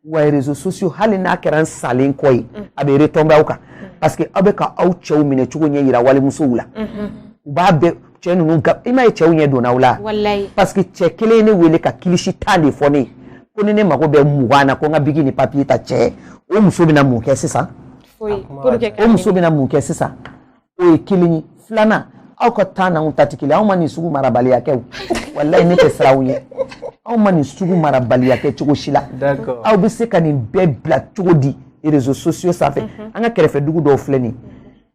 wa rezo sosiyo hali n'a kɛra n salen kɔ ye mm. a bɛ retɔnbe aw kan mm. parce que aw bɛ ka aw cɛw minɛ cogo ɲɛ yira walimusow la mm-hmm. u b'a bɛɛ cɛ ninnu ga i m'a ye cɛw ɲɛ donna aw la parce que cɛ kelen ye ne wele ka kilisi tan de fɔ ne ye ko ni ne mago bɛ mugan na ko n ka bigi ni papiye ta cɛ o muso bɛna mun kɛ sisan o muso bɛna mun kɛ sisan o ye kelen ye filanan aw ka temps n'anw ta tɛ kelen anw ma nin sugu marabaliya kɛ o walayi ne tɛ siran aw ɲɛ anw ma nin sugu marabaliya kɛ cogo si la aw bɛ se ka nin bɛɛ bila cogo di réseaux sociaux sanfɛ mhm. an ka kɛrɛfɛ dugu dɔw filɛ nin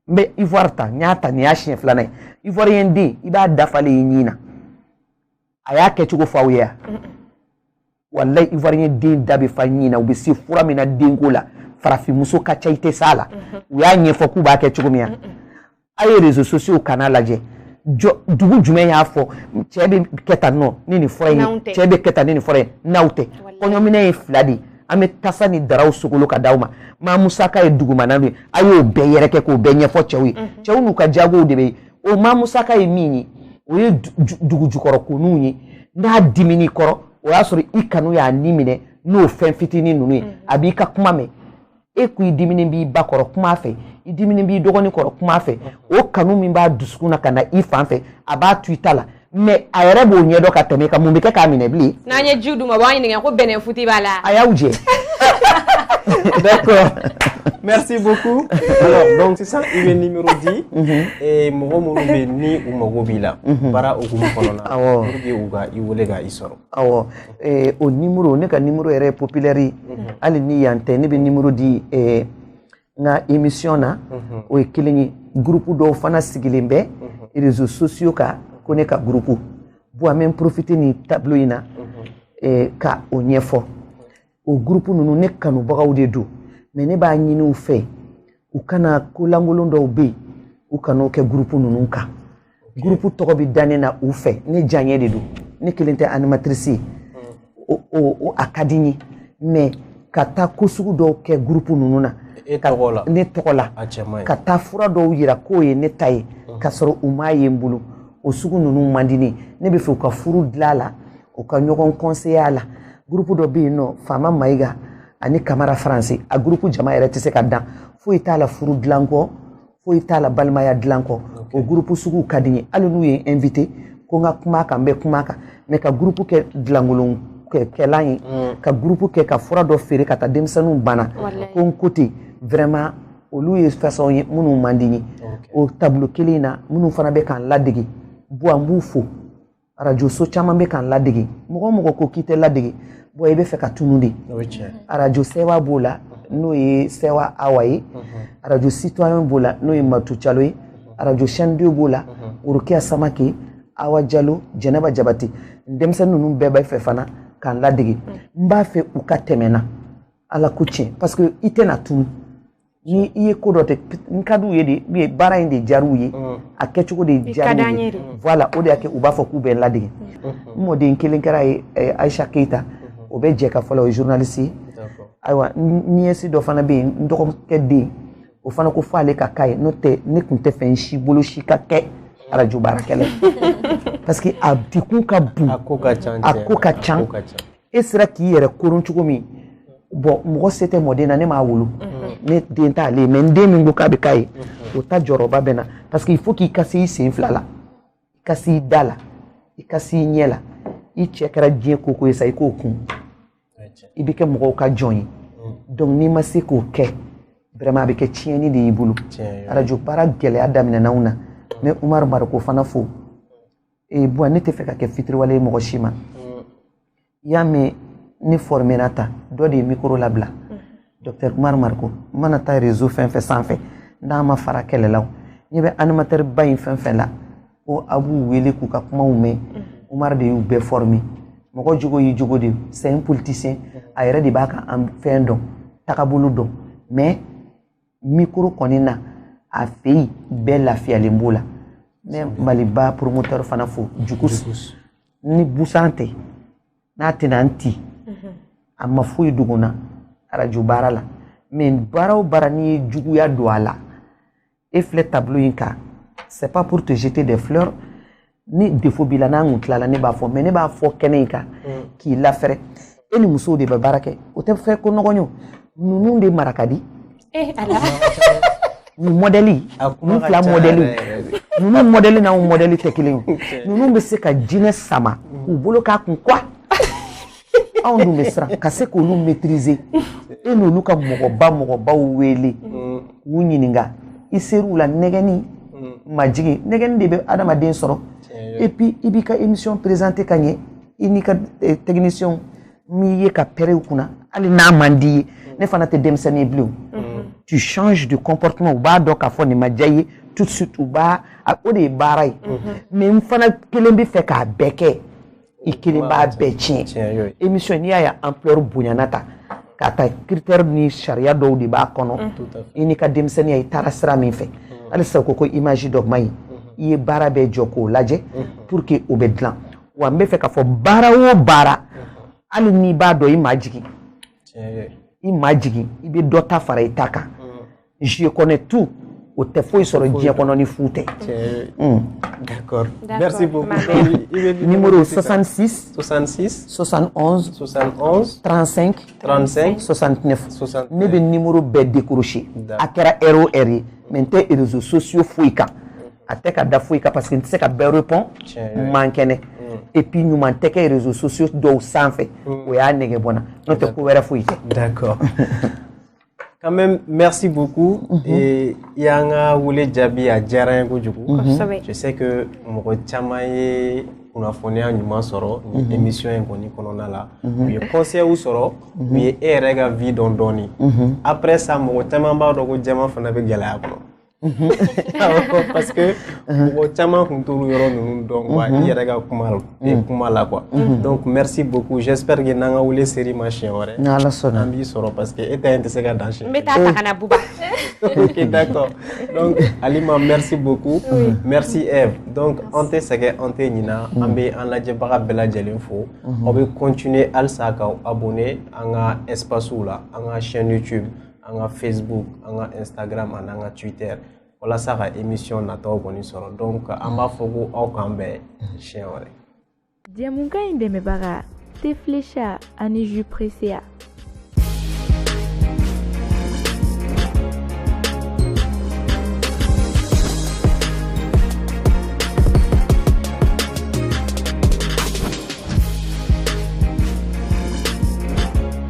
n bɛ ivoire ta n y'a ta nin y'a siɲɛ filanan ye ivoiriyɛn den i b'a da falen ye ɲin na a y'a kɛcogo fɔ aw ye yan walayi ivoirien den da bɛ fa ɲin na u bɛ se fura min na denko la farafinmuso ka ca i tɛ s'a la u y'a ɲɛfɔ k'u b'a kɛ cogo min na a ye réseaux sociaux kanna lajɛ dugu jumɛn y'a fɔ cɛ bɛ kɛ tan nɔ ni nin fura in ye cɛ bɛ kɛ tan ni nin fura ye n'aw tɛ kɔɲɔminɛn ye fila de ye an bɛ tasa ni daraw sogolo ka d'aw ma maa musaka ye dugumana de ye a y'o bɛɛ yɛrɛkɛ k'o bɛɛ ɲɛfɔ cɛw ye cɛw n'u ka jagow de bɛ o ma musaka ye min ye o ye dugu jukɔrɔ ko ninnu ye n'a dimin'i kɔrɔ o y'a sɔrɔ i kanu y'a ni minɛ n'o fɛn fitinin ninnu ye mm. a b'i ka kuma mɛn e ko i diminen b'i ba kɔrɔ kuma fɛ i diminen b'i dɔgɔnin kɔrɔ kuma fɛ o kanu min b'a dusukun na ka na i fan fɛ a b'a to i ta la mais a yɛrɛ b'o ɲɛdɔn ka tɛmɛ i kan mun bɛ kɛ k'a minɛ bilen. n'an ye jiw d'u ma u b'an ɲininka ko bɛnɛfunti b'a la. a y'aw jɛ. d'accord merci beaucoup alors donc sisan i bɛ nimero di mɔgɔ minnu bɛ yen ni u mago b'i la baara hukumu kɔnɔna na pour que u ka i wele ka i sɔrɔ. awɔ o nimero ne ka nimero yɛrɛ ye populaire ye hali ni yan tɛ ne bɛ nimero di. n ka emission na mhm. o ye kelen ye gurupu dɔw fana sigilen bɛ mhm. réseaux sociaux kan ko ne ka gurupu bon an bɛ profite nin tableau in na mhm. eh, ka o ɲɛfɔ o gurupu ninnu ne kanubagaw de don mais ne b'a ɲini u fɛ u kana ko lankolon dɔw bɛ yen u kan'o kɛ gurupu ninnu kan gurupu tɔgɔ bɛ da ne na u fɛ ne diyaɲɛ de don ne kelen tɛ animatirisi ye o o a ka di n ye mɛ ka taa ko sugu dɔw kɛ gurupu ninnu na ne tɔgɔ la ka taa fura dɔw yira k'o ye ne ta ye ka sɔrɔ u m'a ye n bolo o sugu ninnu man di n ye ne b'a fɛ u ka furu dilan a la u ka ɲɔgɔn kɔnseye a la gurupu dɔ bɛ yen nɔ faama mayiga ani kamara faransi a gurupu jama yɛrɛ tɛ se ka dan foyi t'a la furu dilan kɔ foyi t'a la balimaya dilan kɔ o gurupu sugu ka di n ye hali n'u ye n invité ko n ka kuma a kan n bɛ kuma a kan mɛ ka gurupu kɛ dilankolon kɛlan ye mm. ka gurupu kɛ ka fura dɔ feere ka taa denmisɛnninw bana ko n ko ten vraiment olu ye fasɔn ye minnu man di n ye o tableau kelen in na minnu fana bɛ k'an ladege bon an b'u fo arajo so caman bɛ k'an ladege mɔgɔ o mɔgɔ ko k'i tɛ ladege bon i bɛ fɛ ka tunu de arajo sɛwa b'o la n'o ye sɛwa awa ye arajo Citoyen b'o la n'o ye matu jalo ye arajo Chaîne deux b'o la rokiya samake awa jalo jɛnɛba jabate denmisɛnnin ninnu bɛɛ bɛ fɛ fana k'an ladege n b'a fɛ u ka tɛmɛ n na ala ko tiɲɛ parce que i tɛna tunu ni i ye ko dɔ tɛ n ka d'u ye de u ye baara in de diyar'u ye mm. a kɛcogo de diyar'u ye mm. voilà o de y'a kɛ u b'a fɔ k'u bɛ n ladege mm-hmm. n mɔden kelen kɛr'a ye eh, Aisha Keita mm-hmm. o bɛ Jɛkafɔ la o ye journaliste ye ayiwa nièce dɔ fana bɛ yen n dɔgɔkɛ den o fana ko fo ale ka k'a ye n'o tɛ ne tun tɛ fɛ n si bolo si ka kɛ arajo baarakɛla ye parce que a degun ka bon a ko ka ca e sera k'i yɛrɛ koron cogo min bon mɔgɔ se tɛ mɔden na ne m'a wolo ne den t'ale ye mais n den min ko k'a bɛ k'a ye o ta jɔrɔba bɛ n na parce que il faut k'i ka se i sen fila la i ka se i da la i ka se i ɲɛ la i cɛ kɛra diɲɛ ko o ko ye sa i k'o kun i bɛ kɛ mɔgɔw ka jɔn ye donc n'i ma se k'o kɛ vraiment a bɛ kɛ tiɲɛni de y'i bolo arajo baara gɛlɛya daminɛna anw na mais umaru mariko fana fo ee bon ne tɛ fɛ ka kɛ fitiriwale ye mɔgɔ si ma mm. i y'a mɛn ne fɔrmera ta dɔ de ye mikoro labila mm. docteur umar mariko n mana taa réseau fɛn fɛn sanfɛ n'a ma fara kɛlɛlaw ne bɛ animateur ba in fɛn fɛn la ko a b'u wele k'u ka kumaw mɛn mm. umar de y'u bɛɛ former mɔgɔ jogo y'i jogo de c'est un politicien a yɛrɛ de b'a ka fɛn dɔn tagabolo dɔn mais mikoro kɔni na a fɛ yen bɛɛ lafiyalen b'o la n bɛ maliba promoteur fana fo jugus ni busan tɛ n'a tɛna n ti mhm. a ma foyi dogo n na arajo baara la mais baara o baara n'i ye juguya don a la e filɛ tableau in kan c'est pas pour te jeter des fleurs ni défaut b'i la n'an kun tilala ne b'a fɔ mais ne b'a fɔ kɛnɛ in kan mm. k'i lafɛrɛ e ni musow de bɛ baara kɛ o tɛ fɛ ko nɔgɔn ye ninnu de mara ka di eh, nin mɔdɛli ninnu fila mɔdɛli ninnu mɔdɛli n'anw mɔdɛli tɛ kelen ye ninnu bɛ se ka jinɛ sama k'u bolo k'a kun quoi anw dun bɛ siran ka se k'olu maîtriser e n'olu ka mɔgɔba mɔgɔbaw wele k'u ɲininka i ser'u la nɛgɛnni majigin nɛgɛnni de bɛ adamaden sɔrɔ et puis i b'i ka émission présenter ka ɲɛ i n'i ka eh, technicien m'i ye ka pɛrɛn u kunna hali n'a man d'i ye ne fana tɛ denmisɛnnin ye bilen tu changes de comportement u b'a dɔn k'a fɔ nin ma diya i ye tout de suite u b'a o de ye baara ye mais n fana kelen bɛ fɛ k'a bɛɛ kɛ. i kelen b'a bɛɛ tiɲɛ émission n'i y'a ye ampleur bonyana taa ka taa critère ni sariya dɔw de b'a kɔnɔ i n'i ka denmisɛnninya i taara sira min fɛ halisa ko ko image dɔ man ɲi i ye baara bɛɛ jɔ k'o lajɛ pour que o bɛ dilan wa n bɛ fɛ k'a fɔ baara o baara hali n'i b'a dɔn i majigin i majigin i bɛ dɔ ta fara i ta kan je connais tout o tɛ foyi sɔrɔ diɲɛ kɔnɔ ni fu tɛ. Hmm. d'accord merci beaucoup. numéro 66. 66. 71. 71. 35. 35. 69. 69 ne bɛ numéro bɛɛ décrocher. a kɛra heure o heure ye mais n tɛ réseaux sociaux foyi kan. a tɛ ka da foyi kan parce que n tɛ se ka bɛɛ répondre n man kɛnɛ. Hmm. et puis ɲuman tɛ kɛ réseaux sociaux dɔw sanfɛ. Hmm. o y'a nɛgɛ bɔ n na n'o tɛ ko wɛrɛ foyi tɛ. d'accord. quand même merci beaucoup mhm. et i y'an ka wele jaabi a diyara n ye kojugu mhm. je sais que mɔgɔ caman ye kunnafoniya ɲuman sɔrɔ nin mhm. émission in kɔni kɔnɔna la u ye conseilw sɔrɔ u ye e yɛrɛ ka vie dɔn dɔɔni après ça mɔgɔ caman b'a dɔn ko jama fana bɛ gɛlɛya kɔnɔ parce que mɔgɔ caman tun t'olu yɔrɔ ninnu dɔn quoi i yɛrɛ ka kuma kuma la quoi donc merci beaucoup j'espère que n'an ka wele sera i ma siɲɛ wɛrɛ ni ala sɔnna an b'i sɔrɔ parce que e ta in tɛ se ka dan siɲɛ n bɛ taa ta ka na buba ok d'accord donc Alima merci beaucoup merci Eve donc an tɛ sɛgɛn an tɛ ɲina an bɛ an lajɛbaga bɛɛ lajɛlen fo aw bɛ continuer halisa k'aw abonner an ka espacew la an ka chaîne YouTube an ka facebook an ka instagram ani an ka twitter walasa ka emission nataw kɔni sɔrɔ donc an b'a fɔ ko aw k'an bɛn siɲɛ wɛrɛ jɛmukan in dɛmɛbaga thé Flecha ani jus Pressea